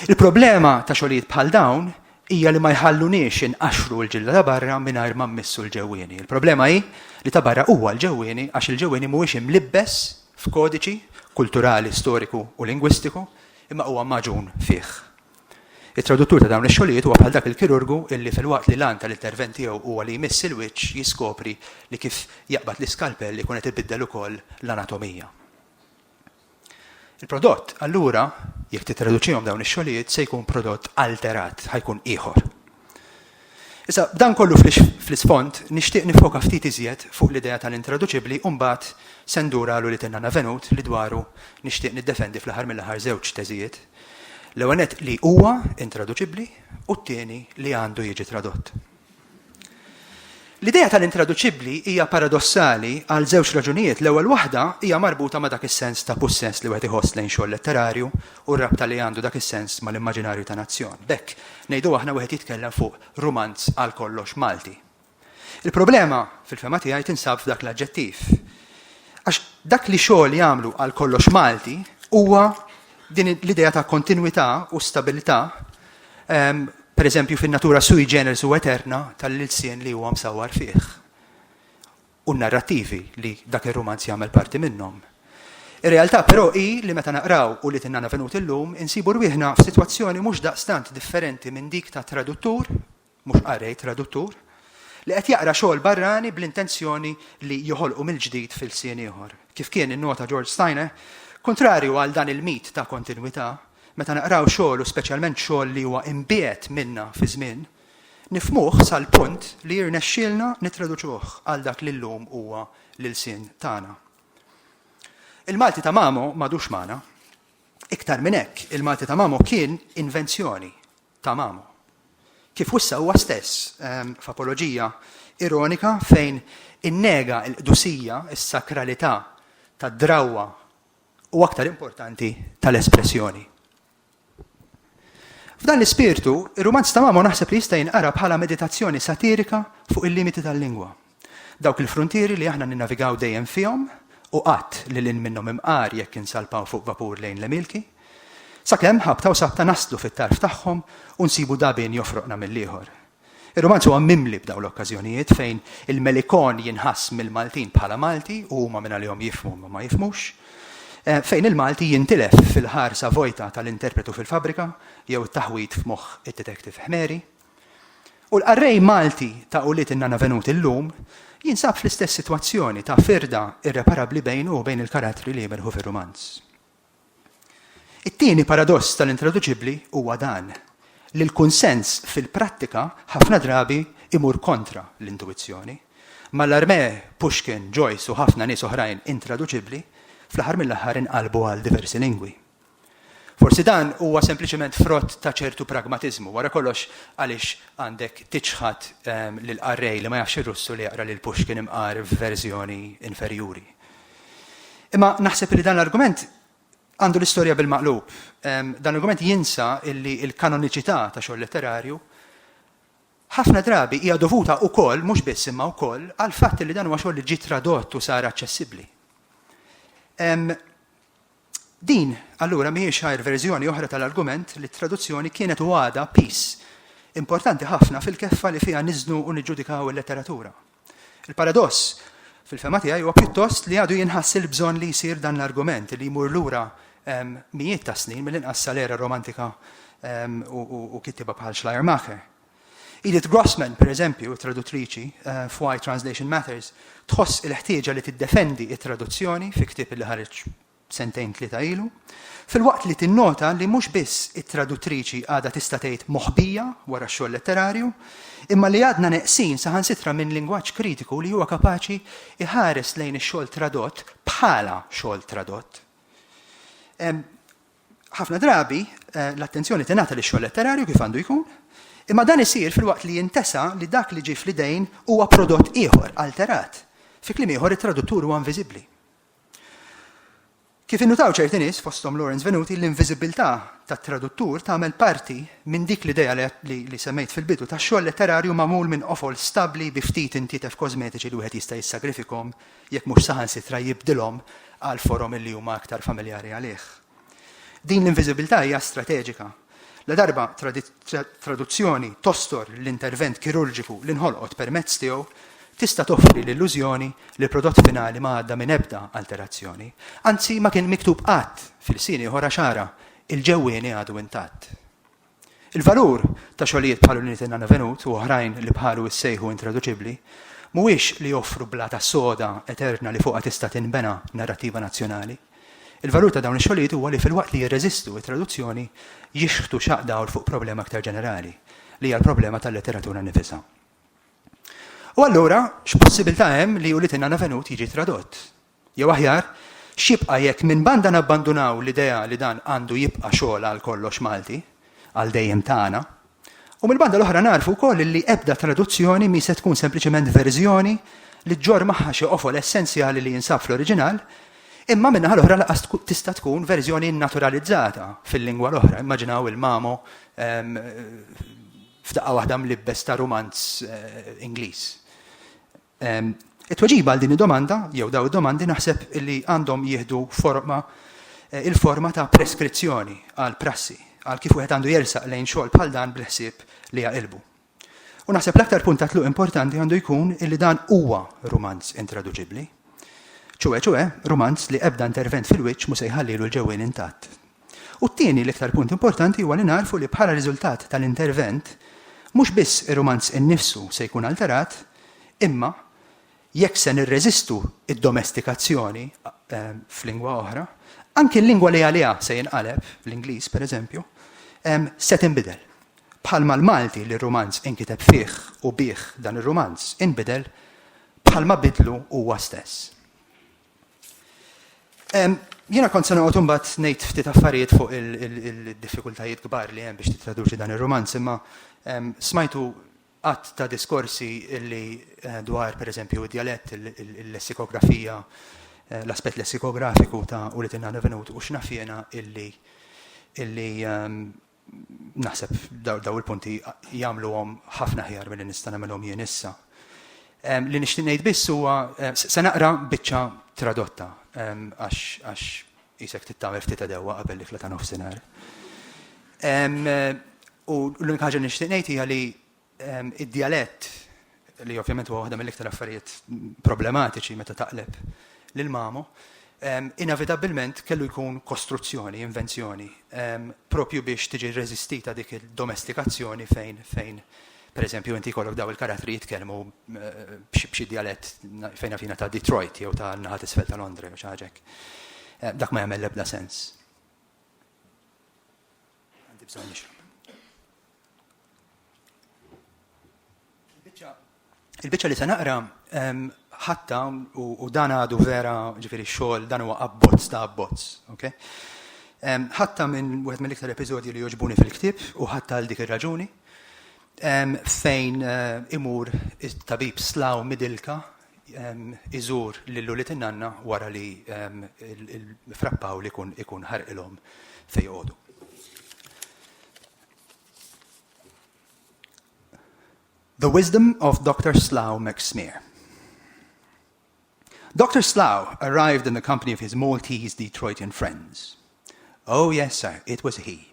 Il-problema ta' xogħlijiet bħal dawn hija li ma jħalluniex inqaxxru l-ġilda ta' barra mingħajr ma mmissu l-ġewwieni. Il-problema hi li ta' barra huwa l-ġewwieni għax il-ġewwieni mhuwiex imlibbes f'kodiċi kulturali, storiku u lingwistiku imma huwa magħġun fih. It-traduttur ta' dawn ix-xogħlijiet huwa bħal dak il-kirurgu illi filwaqt li l-għan tal-intervent tiegħu huwa li jmiss il-wiċċ jiskopri li kif jaqbad l-iskalpell ikun qed ibiddel ukoll l-anatomija. Il-prodott, allura, jekk tittraduċihom dawn ix-xogħlijiet, se jkun prodott alterat, ħa jkun ieħor. Issa, b'dan kollu fl-isfond, nixtieq niffoka ftit iżjed fuq l-idea tal-intraduċibbli u mbagħad se ndur għal ulied in-nana Venut li dwaru nixtieq niddefendi fl-aħħar mill-aħħar żewġ teżijiet, l-ewwel nett li huwa intraduċibbli u t-tieni li għandu jiġi tradott. L-idea tal-intraduċibbli hija paradossali għal żewġ raġunijiet, l-ewwel waħda hija marbuta ma' dak is-sens ta' pussess li wieħed iħoss lejn xogħol letterarju u r-rabta li għandu dak is-sens mal-immaġinarju ta' nazzjon. B'hekk, ngħidu aħna wieħed jitkellem fuq rumanz għal kollox Malti. Il-problema, fil-fehma tiegħi, tinsab f'dak l-aġġettiv. Għax dak li xogħol jagħmlu għal kollox Malti huwa din l-idea ta' kontinwità u stabilità per eżempju, fin-natura sui generis u eterna tal-ilsien li huwa msawwar fih u n-narrattivi li dak ir-rumanz jagħmel parti minnhom. Ir-realtà però hi li meta naqraw u li tinnana venuti llum, insibu rwieħna f'sitwazzjoni mhux daqstant differenti minn dik ta' traduttur mhux qari, traduttur, li qed jaqra xogħol barrani bl-intenzjoni li joħolqu mill-ġdid f'ilsien ieħor. Kif kien innota George Steiner, kuntrarju għal dan il-mit ta' kontinwità, meta naqraw xogħol u speċjalment xogħol li huwa imbiegħed minna fiż-żmien, nifhmuh sal-punt li jirnexxielna nittraduċuh għal dak li llum huwa l-ilsien tagħna. Il-Malti ta' Mamo m'għadux magħna. Iktar minn hekk, il-Malti ta' Mamo kien invenzjoni. ta' Mamo. Kif wissa huwa stess, f'apoloġija ironika fejn innega l-qdusija, is-sakralità tad-drawwa u aktar importanti tal-espressjoni. F'dan l-ispirtu, ir-rumanz ta' Mamo naħseb li jista' jinqara bħala meditazzjoni satirika fuq il-limiti tal-lingwa. Dawk il-fruntieri li aħna ninnavigaw dejjem fihom u qatt lil hinn minnhom imqar jekk insalpaw fuq vapur lejn l-Emilki. Sakemm, ħabta u sabta naslu fit-tarf tagħhom u nsibu dagħbien jofroqna mill-ieħor. Ir-rumanz huwa mimli b'dawn l-okkażjonijiet fejn il-Melikon jinħass mill-Maltin bħala Malti u huma minn għalihom jifhmu imma ma jifhmux, fejn il-Malti jintilef fil-ħarsa vojta tal-interpretu fil-fabbrika jew it-taħwid f'moħħ id-detective Ħmeri. U l-qarrej Malti ta' ulied in-Nana Venuti llum jinsab fl-istess sitwazzjoni ta' firda irreparabbli bejnu u bejn il-karattri li jimerħu fir-rumanz. It-tieni paradoss tal-intraduċibbli huwa dan, li l-kunsens fil-prattika ħafna drabi imur kontra l-intuwizzjoni. Mallarmé, Pushkin, Joyce u ħafna nies oħrajn intraduċibbli, fl-aħħar mill-aħħar inqalbu għal diversi lingwi. Forsi dan huwa sempliċement frott ta' ċertu pragmatiżmu, wara kollox għaliex għandek tiċħad lill-qarrej li ma jafx ir-Russu li jaqra lil Pushkin imqar f'verżjoni inferjuri? Imma naħseb li dan l-argument għandu l-istorja bil-maqlub. Dan l-argument jinsa illi l-kanoniċità ta' xogħol letterarju ħafna drabi hija dovuta wkoll mhux biss imma wkoll għal fatt li dan huwa xogħol li ġie tradott u sar aċċessibbli. Din, allura, mhijiex għajr verżjoni oħra tal-argument li t-traduzzjoni kienet u għadha piż importanti ħafna fil-keffa li fiha niżnu u niġġudikaw il-letteratura. Il-paradoss, fil-fehma tiegħi, huwa pjuttost li għadu jinħass il-bżonn li jsir dan l-argument li jmur lura mijiet ta' snin mill-inqas sal-era romantika u kittieba bħal Schleiermacher. Edith Grossman, pereżempju, it-traduttriċi f'Why Translation Matters, tħoss il-ħtieġa li tiddefendi t-traduzzjoni fi ktieb li ħareġ sentejn tlieta ilu, filwaqt li tinnota li mhux biss it-traduttriċi għadha tista' tgħid moħbija wara x-xogħol letterarju, imma li għadna neqsin saħansitra minn lingwaġġ kritiku li huwa kapaċi jħares lejn ix-xogħol tradott bħala xogħol tradott. Ħafna drabi, l-attenzjoni tingħata lix-xogħol letterarju kif għandu jkun, imma dan isir filwaqt li jintesa li dak li ġie fl-idejn huwa prodott ieħor, alterat. Fi kliem ieħor, it-traduttur huwa inviżibbli. Kif innutaw ċerti nies, fosthom Lawrence Venuti, l-inviżibbiltà tat-traduttur tagħmel parti minn dik l-idea li semmejt fil-bidu ta' xogħol letterarju magħmul minn qofol stabbli bi ftit intietef kożmetiċi li wieħed jista' jissagrifikhom jekk mhux saħansitra jibdilhom għal forom li huma aktar familjari għalih. Din l-inviżibbiltà hija strateġika. Ladarba traduzzjoni tostor l-intervent kirurġiku li nħolqot permezz tiegħu, tista' toffri l-illużjoni li l-prodott finali ma għadda minn ebda alterazzjoni, anzi ma kien miktub qatt f'ilsien ieħor għax ara, il-ġewwieni għadu intatt. Il-valur ta' xogħlijiet bħal Uniti Nano Venut u oħrajn li bħalu jissejħu intraduċibbli mhuwiex li joffru blata soda eterna li fuqha tista' tinbena narrattiva nazzjonali. Il-valur ta' dawn ix-xogħlijiet huwa li filwaqt li jirreżistu t-traduzzjoni jixħtu xaqq dawl fuq problema iktar ġenerali, li hija l-problema tal-letteratura nnifisha. U allura, x'possibbiltà hemm li Uniti Nano Venut jiġi tradott? Jew aħjar, x'jibqa' jekk minn banda nabbandunaw l-idea li dan għandu jibqa' xogħol għal kollox Malti, għal dejjem tagħna, u mill-banda l-oħra nagħrfu wkoll li ebda traduzzjoni mhi se tkun sempliċement verżjoni li ġġorr magħha xi qofol essenzjali li jinsab fl-oriġinal, imma min-naħa l-oħra lanqas tista' tkun verżjoni nnaturalizzata fil-lingwa l-oħra, immaġinaw il-Mamo f'daqqa waħda mlibbes ta' rumanz Ingliż. It-tweġiba għal din id-domanda, jew dawn id-domandi naħseb li għandhom jieħdu forma, il-forma ta' preskrizzjoni għal prassi, għal kif wieħed għandu jersaq lejn xogħol bħal dan bil-ħsieb li jaqilbu. U naħseb l-aktar punt ta' tluq importanti għandu jkun illi dan huwa rumanz intraduċibbli. Ċuwe ċuwe, rumanz li ebda intervent fil-wiċċ mu se jħallilu l-ġewwien intatt. U t-tieni, l-iktar punt importanti huwa li nagħrfu li bħala riżultat tal-intervent, mhux biss ir-rumanz innifsu se jkun alterat, imma, jekk se nirreżistu d-domestikazzjoni f'lingwa oħra, anki l-lingwa li għaliha se jinqaleb, l-Ingliż, pereżempju, se tinbidel. Bħalma l-Malti li r-rumanz inkiteb fih u bih dan ir-rumanz inbidel, bħalma bidlu huwa stess. Jiena kont se noqgħod imbagħad ngħid ftit affarijiet fuq il-diffikultajiet kbar li hemm biex tittraduċi dan ir-romanz, imma smajtu għadd ta' diskorsi li dwar pereżempju d-djalett, il-lessikografija, l-aspett lessikografiku ta' u li tingħada venut u x'naf jiena illi Naħseb dawn il-punti jagħmluhom ħafna aħjar milli nista' nagħmilhom jien issa. Li nixtieq ngħid biss huwa se naqra biċċa tradotta għax qisek trid tagħmel ftit edewwa qabel l-ikla ta' nofsinhar. U l-unika ħaġa li nixtieq ngħid hija li Id-djalett, li ovvjament huwa waħda mill-iktar affarijiet problematiċi meta taqleb lil Mamo, inevitabbilment kellu jkun kostruzzjoni, invenzjoni, proprju biex tiġi rreżistita dik id-domestikazzjoni fejn, fejn, pereżempju, inti jkollok dawn il-karattri jitkellmu b'xi djalett fejn naf jiena ta' Detroit jew ta' naħa t'isfel ta' Londra jew xi ħaġa hekk. Dak ma jagħmel l-ebda sens. Għandi bżonn nixrob. Il-biċċa li se naqra ħatta u dan għadu vera ġifieri xogħol dan huwa abbozz ta' abbozz, ok? Ħatta minn wieħed mill-iktar episodji li joġbuni fil-ktieb u ħatta għal dik ir-raġuni fejn eh, imur it-tabib slaw midilka iżur lil ulied in-nanna wara li Fra Pawl ikun ħarqilhom fejn joqogħdu. The Wisdom of Doctor Slough McSmear Doctor Slough arrived in the company of his Maltese Detroitian friends. Oh, yes, sir, it was he.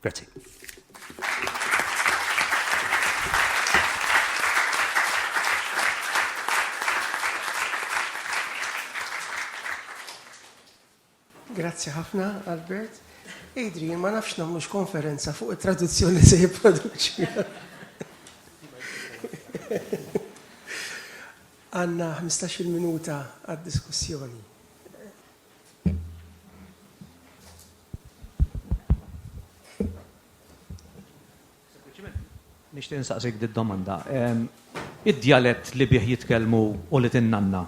Grazzi. Grazzi ħafna, Albert. Adrian, ma nafx namlux konferenza fuq il-traduzzjoni se jiproduċi. Għanna 15 minuta għad-diskussjoni. Nixtieq insaqsik di domanda. Id-djalett li bih jitkellmu ulied in-nanna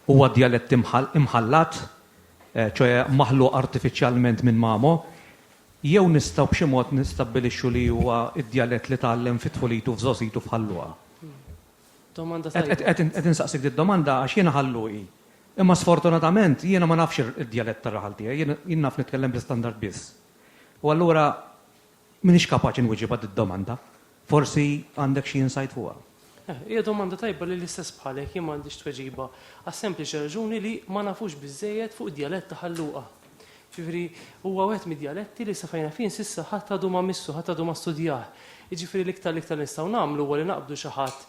huwa djalett imħallat, ċoe maħluq artifiċjalment minn mamo, jew nistgħu b'xi mod nistabbilixxu li huwa d-djalett li tgħallem fi tfulitu f'żgħożitu f'Ħal Luqa? Domanda tajba. Qed insaqsik did-domanda għax jiena Ħalluqi. Imma sfortunatament jiena ma nafx id-djalett tar-raħal tiegħi, jien naf nitkellem bl-istandard biss. U allura m'iniex kapaċi nwieġibha did-domanda. Forsi għandek xi insight fuqha. Hija domanda tajba li l-istess bħalek jien ma għandix tweġiba għas-sempliċi raġuni li ma nafux biżżejjed fuq id-djalett ta' Ħalluqa. Jiġifieri, huwa wieħed mid-djaletti li sa fejn għarfien s'issa ħadd għadu ma missu, ħadd għadu ma studjah. Jiġifieri l-iktar l-iktar li nistgħu nagħmlu huwa li naqbdu xi ħadd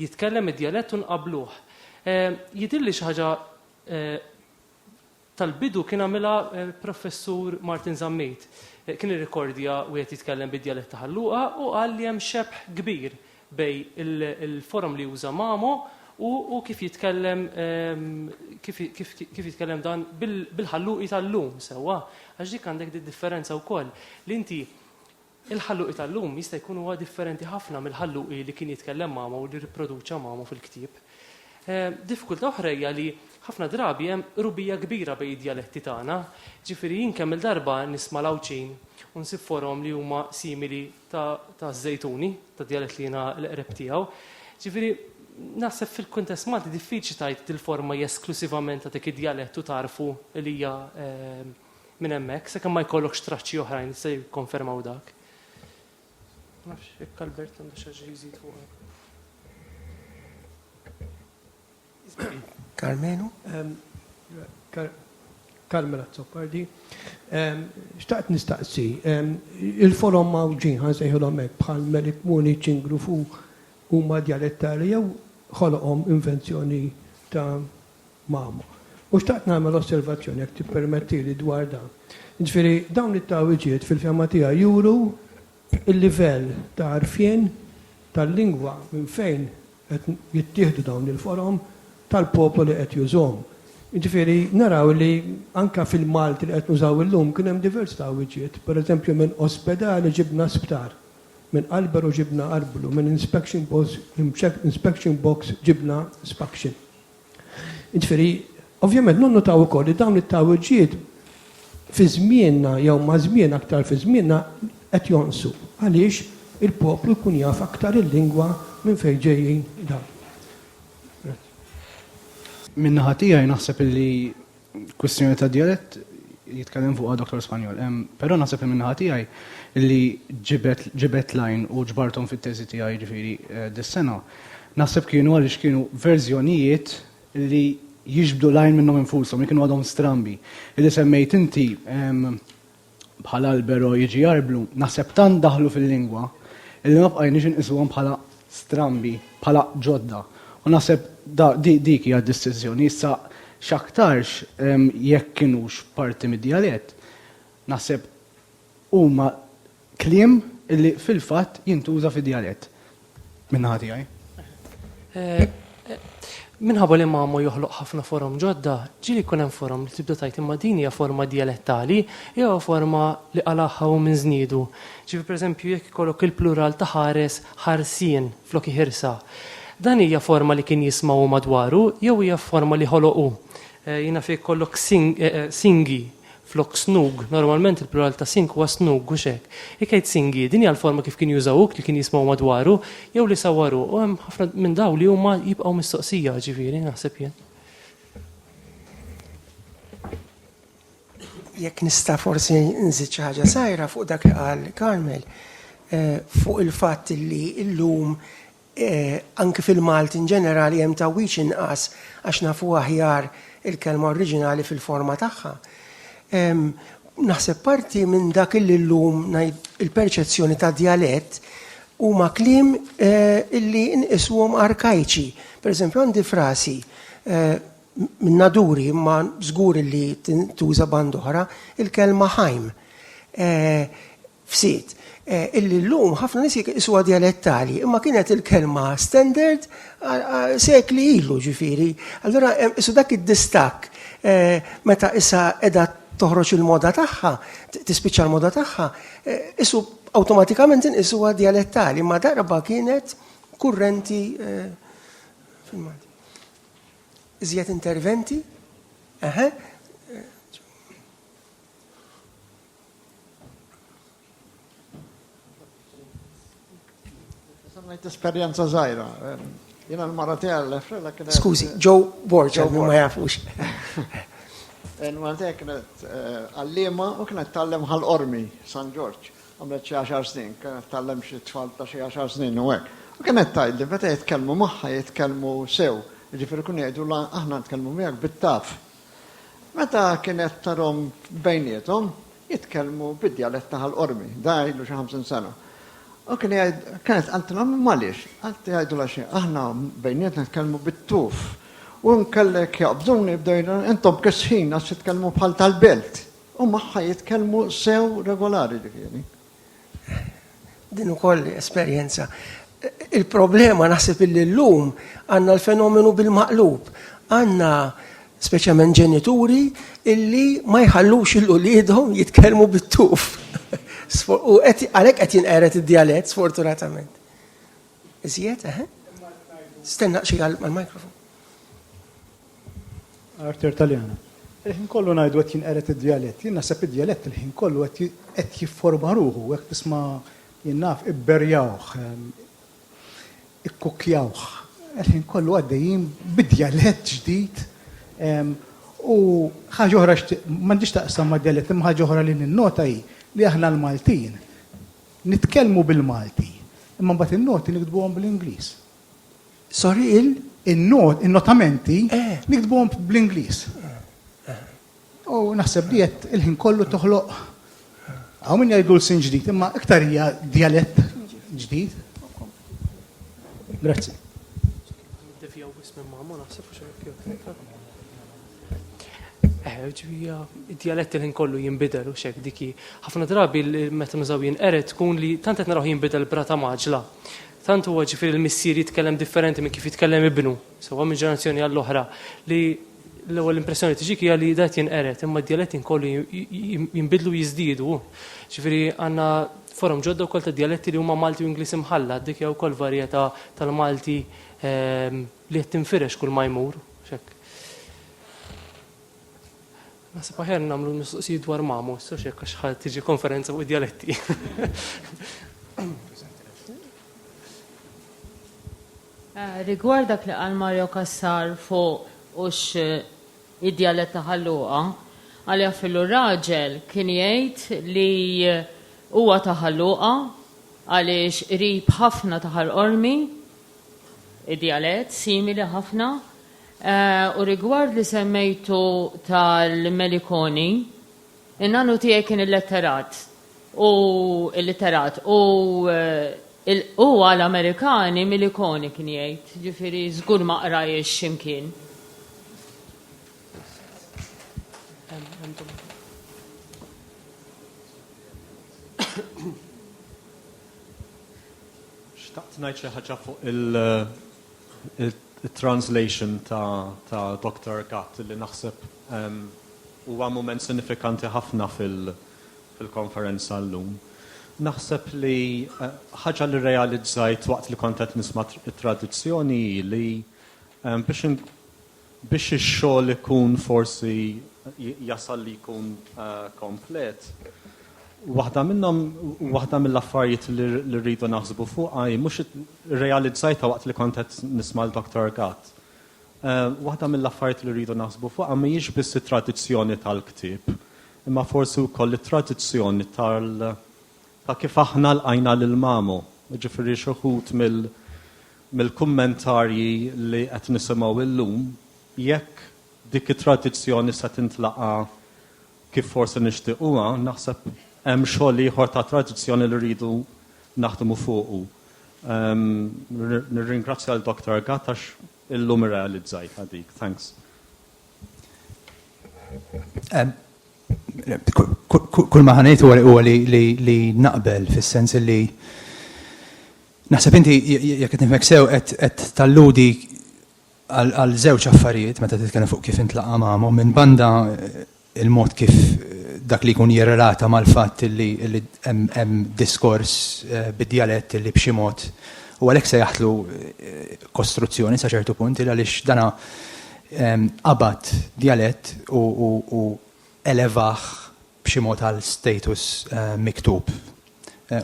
jitkellem id-djalett u nqabbluh. Jidhirli xi ħaġa tal-bidu kien għamilha l-Professur Martin Zammit. Kien irrikordja wieħed jitkellem bid-djalett ta' Ħal Luqa u qal li hemm xebħ kbir bej il-forom li juża Mamo u kif jitkellem kif jitkellem dan bil-Ħalluqi tal-lum sewwa. Għax dik għandek di differenza wkoll li inti il-Ħalluqi tal-lum jista' jkun huwa differenti ħafna mill-Ħalluqi li kien jitkellem Mamo u li ripproduċa Mamo fil-ktieb. Diffikultà oħra hija li ħafna drabi hemm qrubija kbira bejn id-djaletti tagħna. Ġifieri jien kemm-il darba nisma' l-Għawdxin u nsib forom li huma simili ta' żejtuni, ta' djalett li jiena l-qreb tiegħu. Ġifieri, naħseb fil-kuntest Malti diffiċli tajt dil-forma hija esklusivament ta' dik id-djalett u tarfu li hija eh, minn hemmhekk, sakemm ma jkollokx traċċi oħrajn se jikkonfermaw dak. Nafx, jekk Albert għandu xi jżid fuq. Karmenu? Carmel Azzopardi. Xtaqt nistaqsi, il-forom Mawġin ħa nsejħilhom hekk bħal Melik Muni, Ċingru fu huma djalettali jew ħoloqhom invenzjoni ta' Mamo. U xtaqt nagħmel osservazzjoni jekk tippermettili dwar dan. Ġifieri dawn it-tagħwiġiet fil-fehma tiegħi juru l-livell ta' għarfien tal-lingwa minn fejn qed jittieħdu dawn il-forom tal-poplu li qed jużhom. Jiġifieri naraw li anke fil-Malti li qed nużaw illum kien hemm diversità wiċiet. Pereżempju minn ospedali ġibna sptar, minn qalberu ġibna qarblu, minn inspection box inspection box ġibna spaction. Jiġifieri, ovvjament nonnutaw ukoll li dawn it-tgħawwiġijiet fi żmienna jew ma' żmien aktar fi żmienna qed jonqsu għaliex il-poplu jkun jaf aktar il-lingwa minn fejn ġejjin dawn. Min-naħa tiegħi naħseb illi Kwistjoni ta' djalett jitkellem fuqha Dottor Spanjol. Però naħseb li min-naħa tiegħi li ġibed ġibed l-għajn u ġbarthom fit-teżi tiegħi jiġifieri dis-sena, naħseb kienu għaliex kienu verżjonijiet li jiġbdu l-għajn minnhom infushom, li kienu għadhom strambi. Li semmejt inti, bħal albero jiġi jarblu, naħseb tant daħlu fil-lingwa illi ma bqajniex inqisuhom bħala strambi, bħala ġodda. U naħseb dik hija d-distinzjoni. Issa x'aktarx jekk kinux parti mid-djalett, naħseb huma kliem illi fil-fatt jintuża fid-djalett. Min-naħa tiegħi. Minħabba li Mamo joħloq ħafna forom ġodda, ġieli jkun hemm forom li tibda tgħid imma din hija forma djalettali jew forma li qalagħha hu minn żniedu. Ġifieri pereżempju jekk ikollok il-plural ta' ħares, ħarsien, flok iħirsa. Dan hija forma li kien jisma' hu madwaru jew hija forma li ħoloq hu? Jiena fejn jkollok singi, Flok snug, normalment il-plural ta' sink huwa snug, hux hekk? Jekk jgħid singi, din hija l-forma kif kien juża uk li kien jismgħu madwaru, jew li sawwaru, u hemm ħafna minn dawn li huma jibqgħu mistoqsija, ġifieri, naħseb jien. Jekk nista' forsi nżid xi ħaġa sajra fuq dak li qal Carmel, fuq il-fatt li llum Anki fil-Malti inġenerali hemm tgħawwiġ inqas għax nafu aħjar il-kelma oriġinali fil-forma tagħha. Naħseb parti minn dak illi llum il-perċezzjoni ta' djalett huma kliem illi nqisuhom arkajċi. Per eżempju għandi frasi minn naduri imma żgur illi tintuża band'oħra, il-kelma ħajm. f'sit illi llum ħafna nies jqisuha djalettali, imma kienet il-kelma standard sekli ilu ġifieri. Allura isu dak id-distakk meta issa qiegħda toħroġ il-moda tagħha, tispiċċa l-moda tagħha, isu awtomatikament inqisuha djalettali, imma darba kienet kurrenti fil-Malti. Iżjed interventi? Eħe. Ngħid esperjenza żgħira. Jiena l-mara tiegħi l-frella kienet. Skużi, Joe Borgia li ma jafux. Il-mara tiegħi kienet eh, għalliema u kienet tallem ħal-qormi San Ġorġ. Għamlet xi għaxar snin, kienet tallem xi tfal ta' xi għaxar snin u hekk. U kienet tgħidli meta jitkellmu magħha jitkellmu sew. Ġifieri kun jgħidu aħna nitkellmu miegħek bit-taf. Meta kienet tarhom bejniethom jitkellmu bid-djalett ta' Ħal Qormi, da ilu xi ħamsin sena. U kien jgħid, kienet qaltilha imma għaliex? Qalt jgħidulha xi, aħna bejnietna nitkellmu bit-tuf. U nkellek jaqbduni bdew jgħidu, intom kisħin għax titkellmu bħal tal-belt. U magħha jitkellmu sew regolari ġifieri. Din ukoll esperjenza. Il-problema naħseb illi llum għandna l-fenomenu bil-maqlub. Għandna speċjalment ġenituri illi ma jħallux il-uliedhom jitkellmu bit-tuf. U għalhekk qed jinqered id-djalett sfortunatament. Iżjed, eħe? Stenna xi għal-mikrofon. Arthur Taliana, Il-ħin kollu ngħidu qed jinqered id-djalett. Jien naħseb id-djalett il-ħin kollu qed jifforma ruħu, hekk tisma' jien naf ibberjawh, ikkukkjawh. Il-ħin kollu għaddejjin bi djalett ġdid u ħaġa oħra xtieq, m'għandhiex taqsam mad-djalett, imma ħaġa oħra li ninnota hi li aħna l-Maltin nitkellmu bil-Malti, imma mbagħad in-noti niktbuhom bl-Ingliż. Sorry, il? In-not, in-notamenti, niktbuhom bl-Ingliż. U naħseb li qed il-ħin kollu toħloq hawn min jgħidu l-sin ġdid, imma iktar hija djalett ġdid. Grazzi. ġvija, id-dialett il-ħin kollu jinbidel u xek diki. ħafna drabi meta nużaw jinqeret tkun li tant qed naraw jinbidel brata maġla. Tant huwa ġifieri l-missier jitkellem differenti minn kif jitkellem ibnu, sewwa minn ġenerazzjoni għall-oħra li l-ewwel impressjoni tiġik hija li dat jinqeret imma d-dialett inkollu jinbidlu jiżdiedu. Ġifieri għandna forom ġodda wkoll ta' dialetti li huma Malti u Ingliż imħallat, dik hija wkoll varjetà tal-Malti ehm, Li qed tinfirex kull ma jmur, mhux hekk? Naħseb aħjar nagħmlu mistoqsijiet dwar mamu, issa hekk għax ħa tiġi konferenza fuq id-djaletti. Eh, rigward dak li qal Mario Kassar fuq ux eh, id-djalett ta' ħalluqa, għalja fillu raġel kien jgħid li eh, huwa ta' ħalluqa għaliex qrib ħafna ta' ħal-qormi Id-djalett simili ħafna. U rigward li semmejtu tal-Melikoni, in-nanu tiegħi kien illetterat u illitterat u hu għal Amerikani Milikoni kien jgħid, ġifieri żgur ma qrajhiex x'imkien. Xtaqt ngħid xi ħaġa fuq il-translation ta' Dr. Gatt li naħseb huwa mument sinifikanti ħafna fil-konferenza llum. Naħseb li ħaġa li rrealizzajt waqt li kont qed nisma' t-tradizzjoni hi li biex Biex ix-xogħol ikun forsi jasal li jkun komplet, waħda minnhom, waħda mill-affarijiet li rridu naħsbu fuqha hi mhux irrealizzajtha waqt li kont qed nisma' l-Doktor Gatt. Waħda mill-affarijiet li rridu naħsbu fuqha mhijiex biss it-tradizzjoni tal-ktieb, imma forsi wkoll it-tradizzjoni tal ta' kif aħna lqajna lil Mamu. Jiġifieri xi wħud mill mill-kummentarji li qed nisimgħu illum, jekk dik it-tradizzjoni se tintlaqa' kif forsi nixtiequha, naħseb hemm xogħol ieħor ta' tradizzjoni li rridu naħdmu fuqu. Nirringrazzja lil Dr. Gatt għax illum irrealizzajtha dik. Thanks. Kull ma ħa ngħid huwa li naqbel fis-sens li Naħseb inti, jekk qed nifhmek sew, qed talludi għal żewġ affarijiet meta titkellem fuq kif intlaqa' magħhom minn banda eh, il-mod kif eh, dak li jkun jirrelata mal-fatt li hemm diskors eh, bid-dialett li b'xi mod u għalhekk se jaħtlu kostruzzjoni sa ċertu punt il għaliex dana ehm, qabad dialett u elevaħ b'xi mod għal status miktub,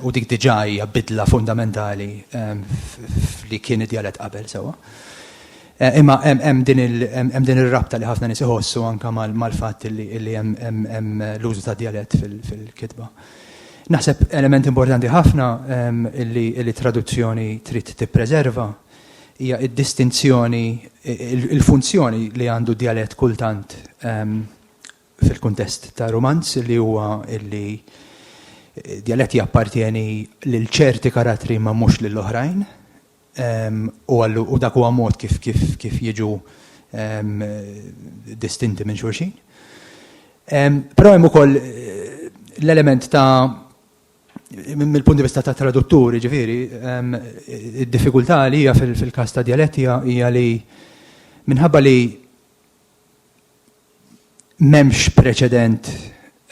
u dik diġà hija bidla fundamentali f'li kien id-djalett qabel sewwa. Imma hemm din ir-rabta li ħafna nies iħossu anke mal-fatt li hemm l-użu tad-djalett fil-kitba. Naħseb element importanti ħafna li traduzzjoni trid tippreserva hija d-distinzjoni, il-funzjoni li għandu d-djalett kultant fil-kuntest ta' rumanz li huwa li djalett jappartjeni lil ċerti karattri imma mhux lil oħrajn u dak huwa mod kif jiġu distinti minn xulxin. Però hemm ukoll l-element ta' mill-punt di vista tat-traduttur, jiġifieri, id-diffikultà li hija fil-każ ta' djalett hija li minħabba li M'hemmx preċedent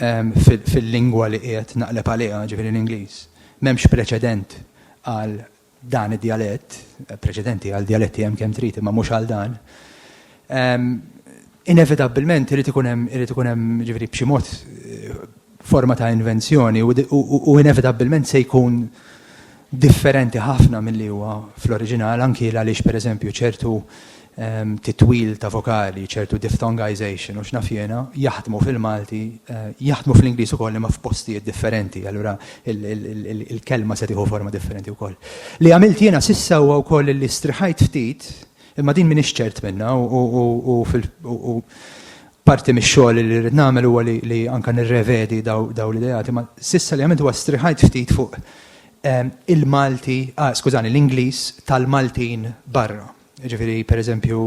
fil-lingwa li qiegħed naqleb għaliha, ġifieri l-Ingliż, m'hemmx preċedent għal dan id-djalett, preċedenti għal djaletti hemm kemm trid imma mhux għal dan. Inevitabbilment irid ikun hemm, irid ikun hemm, ġifieri b'xi mod, forma ta' invenzjoni u inevitabbilment se jkun differenti ħafna milli huwa fl-oriġinal anki għaliex pereżempju ċertu ehm, titwil ta' vokali, ċertu diphthongization u x'naf jiena jaħdmu fil-Malti, eh, jaħdmu fl-Ingliż ukoll imma f'postijiet differenti, allura il-kelma se tieħu forma differenti wkoll. Li għamilt jiena sissa huwa wkoll li striħajt ftit imma din minix ċert minna u Parti mix-xogħol li rrid nagħmel huwa li anke nirrevedi dawn l-ideati, imma s'issa li għamilt huwa strieħajt ftit fuq il-Malti, skużani, l-Ingliż tal-Maltin barra. Jiġifieri, pereżempju,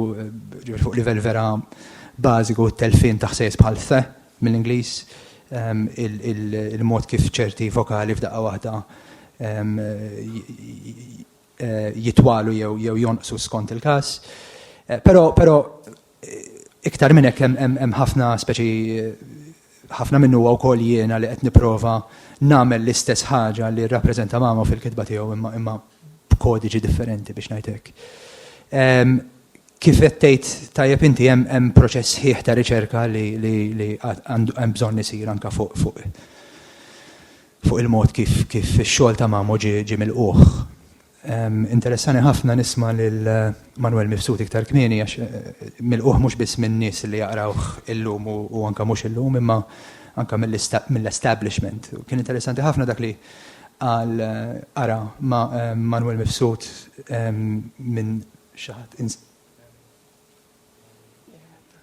jiġifieri fuq livell vera bażiku t-telfien ta' ħsejjes bħal the mill-Ingliż, il-mod kif ċerti vokali f'daqqa waħda jitwalu jew jew jonqsu skont il-każ. Però però iktar minn hekk hemm ħafna speċi ħafna minnu huwa wkoll jiena li qed nipprova nagħmel l-istess ħaġa li rrappreżenta Mamo fil-kitba tiegħu imma imma b'kodiġi differenti biex ngħid hekk. Ehm, kif qed tgħid tajjeb inti hemm hemm proċess ħieħ ta' riċerka li li li hemm bżonn isir anke fuq fuq fuq il-mod kif kif ix-xogħol ta' Mamo ġie ġie milqugħ. Interessani ħafna nisma' lil Manwel Mifsud iktar kmieni għax milqugħ mhux biss min-nies li jaqrawh illum u u anke mhux illum imma anke mill-establishment. Kien interessanti ħafna dak li qal qara ma' Manwel Mifsud minn xi ħadd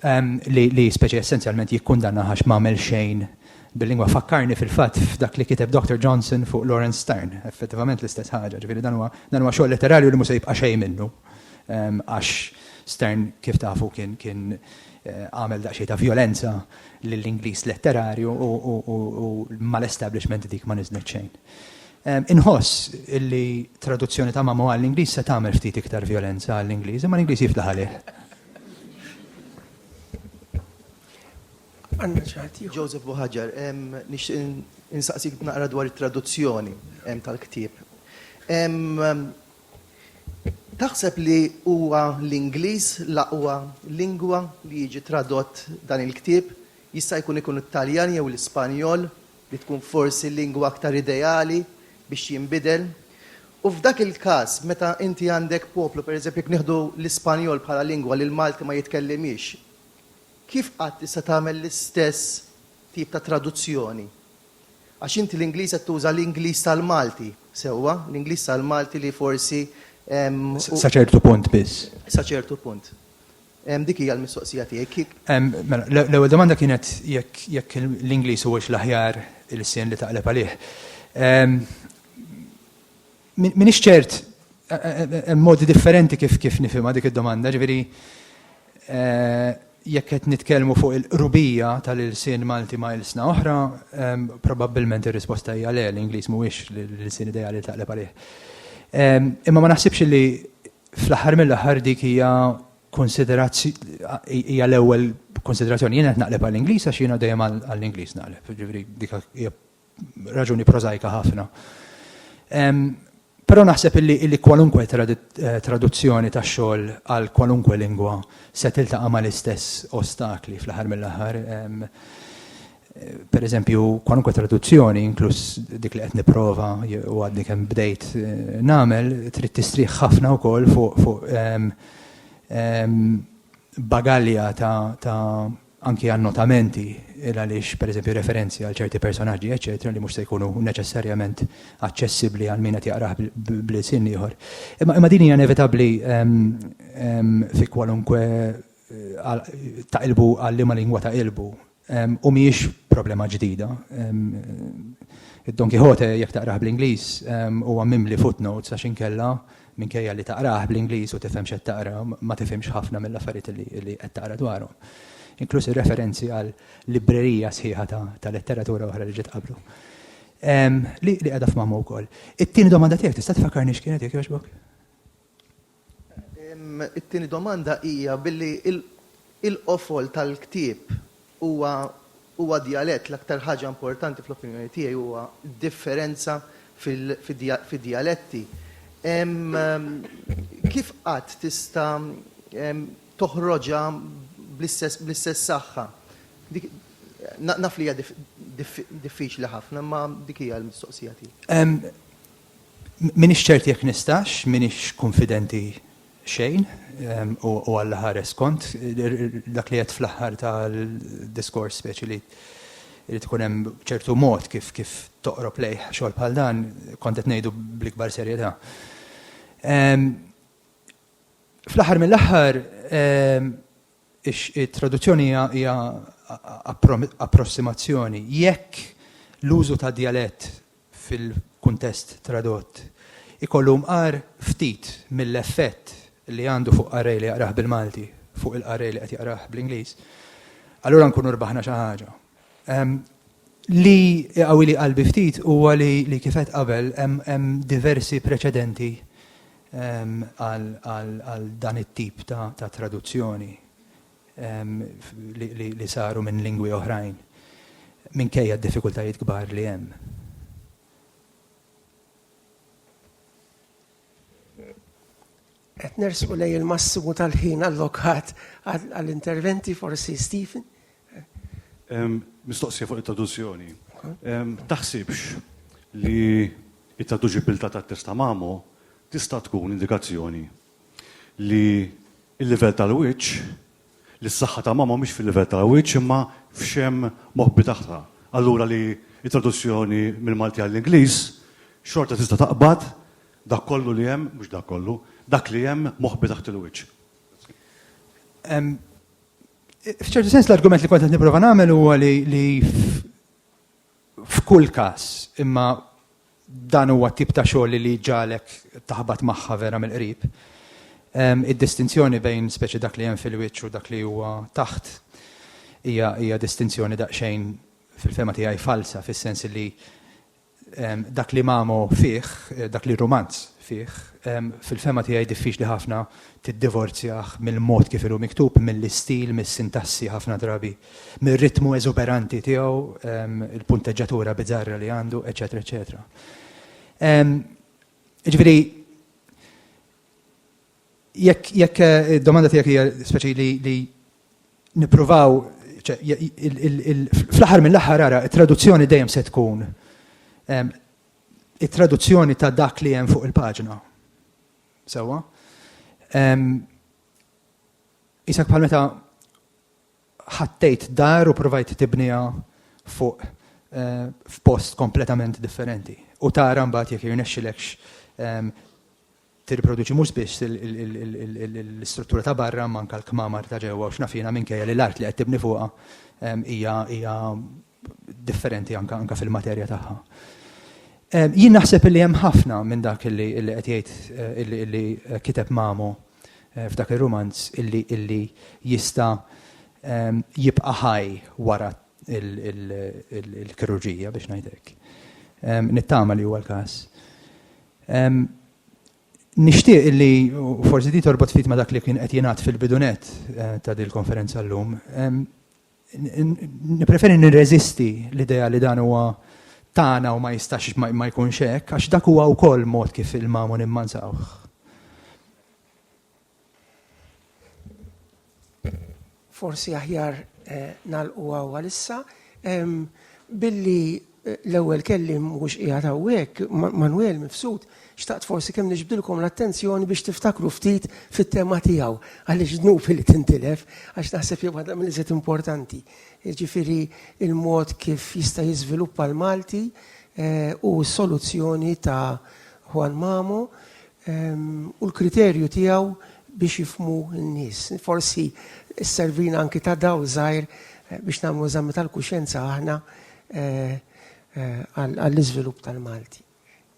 um, li, li speċi essenzjalment jikkundanna għax m'għamel xejn bil-lingwa fakkarni fil-fatt f'dak li kiteb Dr. Johnson fuq Lawrence Stern, effettivament l-istess ħaġa, ġifieri dan huwa dan huwa xogħol letterarju li mhux se jibqa' xejn minnu. Um, għax Stern kif tafu kien kien eh, għamel daqsxejn ta' violenza lill-Ingliż letterarju u, u, u, u mal-establishment dik ma niżnet xejn. Inħoss li traduzzjoni ta' Mamo għall-Ingliż se tagħmel ftit iktar vjolenza għall-Ingliż, imma l-Ingliż jiflaħ għalih. Joseph Buħaġar, nixtieq insaqsik naqra dwar it-traduzzjoni tal-ktieb. Taħseb li huwa l-Ingliż l-aqwa lingwa li jiġi tradott dan il-ktieb? Jista' jkun ikun it-Taljan jew l-Ispanjol li tkun forsi lingwa aktar ideali biex jinbidel. U f'dak il-każ, meta inti għandek poplu, pereżempju jekk nieħdu l-Ispanjol bħala lingwa li l-Malti ma jitkellimhiex, kif qatt tista' tagħmel l-istess tip ta' traduzzjoni? Għax inti l-Ingliż qed tuża l-Ingliż tal-Malti, sewwa, l-Ingliż tal-Malti li forsi, ehm, Sa ċertu punt biss. Sa ċertu punt. Dik hija l-mistoqsija tiegħi. Mela, l-ewwel domanda kienet jekk l-Ingliż huwiex l-aħjar ilsien li taqleb għalih. M'iniex ċert, hemm modi differenti kif nifhimha dik id-domanda, ġifieri jekk qed nitkellmu fuq il-qrubija tal-ilsien Malti ma' ilsna oħra, probabbilment ir-risposta hija le, l-Ingliż mhuwiex l-ilsien ideali li taqleb għalih. Imma ma naħsibx li Fl-aħħar mill-aħħar dik hija konsiderazzjoni hija l-ewwel konsiderazzjoni. Jien qed naqleb għall-Ingliż għax jiena dejjem għall-Ingliż naqleb, jiġifieri dik hija raġuni prożajka ħafna. Però naħseb illi kwalunkwe traduzzjoni ta' xogħol għal kwalunkwe lingwa se tiltaqa' mal-istess ostakli fl-aħħar mill-aħħar. Per eżempju, kwalunkwe traduzzjoni, inkluż dik li qed nipprova u għadni kemm bdejt eh, nagħmel, trid tistrieħ ħafna wkoll fuq fu, um, um, bagalja ta', ta anki annotamenti il għaliex per eżempju referenzi għal ċerti personaġġi, eċetera, li mhux se jkunu neċessarjament aċċessibbli għal min qed jaqrah bl-sin ieħor. Imma imma din hija inevitabbli ehm, ehm, fi kwalunkwe eh, ta' ilbu għal liema lingwa ta' ilbu. U mhijiex problema ġdida. Id-Don Quijote, jekk taqrah bl-Ingliż, huwa mimli footnotes għax inkella, minkejja li taqrah bl-Ingliż u tifhem x'qed taqra, ma tifhimx ħafna mill-affarijiet li qed taqra dwarhom. Inkluż ir-referenzi għal librerija sħiħa ta' letteratura oħra li ġiet qablu. Li qiegħda f'mammu wkoll. It-tieni domanda tiegħek tista' tfakkarni x'kienet jekk jogħġbok? It-tieni domanda hija billi l-qofol tal-ktieb huwa djalett, l-aktar ħaġa importanti fl-opinjoni tiegħi huwa d-differenza fid-djaletti. Kif qatt tista' toħroġha bl-istess saħħa? Naf li hija diffiċli ħafna imma dik hija l-mistoqsija tiegħi. M'iniex ċert jekk nistax, m'iniex kunfidenti xejn, u Alla ħares kont dak li għedt fl-aħħar tal-diskors speċi li irid ikun hemm ċertu mod kif kif toqrob lejh xogħol bħal dan, kont qed ngħidu bl-ikbar serjetà. Fl-aħħar mill-aħħar it-traduzzjoni hija approssimazzjoni. Jekk l-użu ta' djalett fil-kuntest tradott, ikollu mqar ftit mill-effett li għandu fuq qarrej li jaqrah bil-Malti fuq il-qarrej li qed jaqrah bl-Ingliż, allura nkunu rbaħna xi ħaġa. Li iqawwili qalbi ftit huwa li kif għedt qabel hemm diversi preċedenti għal dan it-tip ta' traduzzjoni. li saru minn lingwi oħrajn minkejja d-diffikultajiet kbar li hemm. Qed nersqu lejn il-massimu tal-ħin allokat għall-interventi forsi Stephen. Mistoqsija fuq it-traduzzjoni. Taħsibx li t-traduċibilità tat-test ta' Mamo tista' tkun indikazzjoni li l-livell tal-wiċċ, li s-saħħa ta' mama mhix fil-livell tal-wiċċ imma f'xemm moħbi tagħha. Allura li t-traduzzjoni mill-Malti għall-Ingliż xorta tista' taqbad dak kollu li hemm, mhux dak kollu, dak li hemm moħbi taħt il-wiċċ. F'ċertu sens l-argument li kont qed nipprova nagħmel huwa li f'kull każ, imma dan huwa t-tip ta' xogħol li jġagħlek taħbat magħha vera mill-qrib. Id-distinzjoni bejn speċi dak li hemm fil-wiċċ u dak li huwa taħt hija distinzjoni daqsxejn fil-fehma tiegħi falsa fis-sens li dak li Mamo fih, dak li r-rumanz fih, fil-fehma tiegħi diffiċli ħafna tiddivorzjah mill-mod kif inhu miktub, mill-istil, mis-sintassi ħafna drabi mir-ritmu eżuberanti tiegħu, il-punteġġatura biżarra li għandu, eċetera, eċetera. Ġifieri, jekk id-domanda tiegħek hija speċi li nippruvaw fl-aħħar mill-aħħar ara, it-traduzzjoni dejjem se tkun it-traduzzjoni ta' dak li hemm fuq il-paġna. Sewwa? Isak bħal meta ħattejt dar u provajt tibniha fuq f'post kompletament differenti. U tara mbagħad jekk jirnexxilekx tirriproduċi mhux biss l-istruttura ta' barra manka l-kmamar ta' ġewwa u x'naf jiena minkejja li l-art li qed tibni fuqha hija differenti anka anka fil-materja tagħha. Jien naħseb li hemm ħafna minn dak illi illi qed jgħid illi illi kiteb Mamo f'dak ir-rumanz illi illi jista' jibqa' ħaj wara l-kirurġija biex ngħid hekk. Nittama li huwa l-każ. Nixtieq illi, u forsi di torbot ftit ma' dak li kien qed jingħad fil-bidunet ta' dil-konferenza llum, Nippreferi nirreżisti l-idea li dan huwa tagħna u ma jistax ma jkunx hekk, għax dak huwa wkoll mod kif il-magħmu nimmanżawh. Forsi aħjar nagħlqu hawn għalissa billi L-ewwel kelliem mhux qiegħed hawnhekk, Manwel Mifsud, xtaqt forsi kemm niġbdilkom l-attenzjoni biex tiftakru ftit fit-tema tiegħu, għaliex dnub li tintilef, għax naħseb hija waħda mill-iżjed importanti. Jiġifieri l-mod kif jista' jiżviluppa l-Malti u s-soluzzjoni ta' Juan Mamo u l-kriterju tiegħu biex jifhmu n-nies. Forsi sservina anki ta' dawl żgħir biex nagħmlu eżami tal-kuxjenza aħna għall-iżvilupp tal-Malti.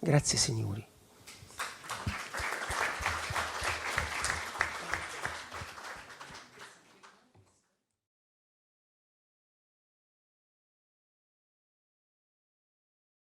Grazzi, Sinjuri.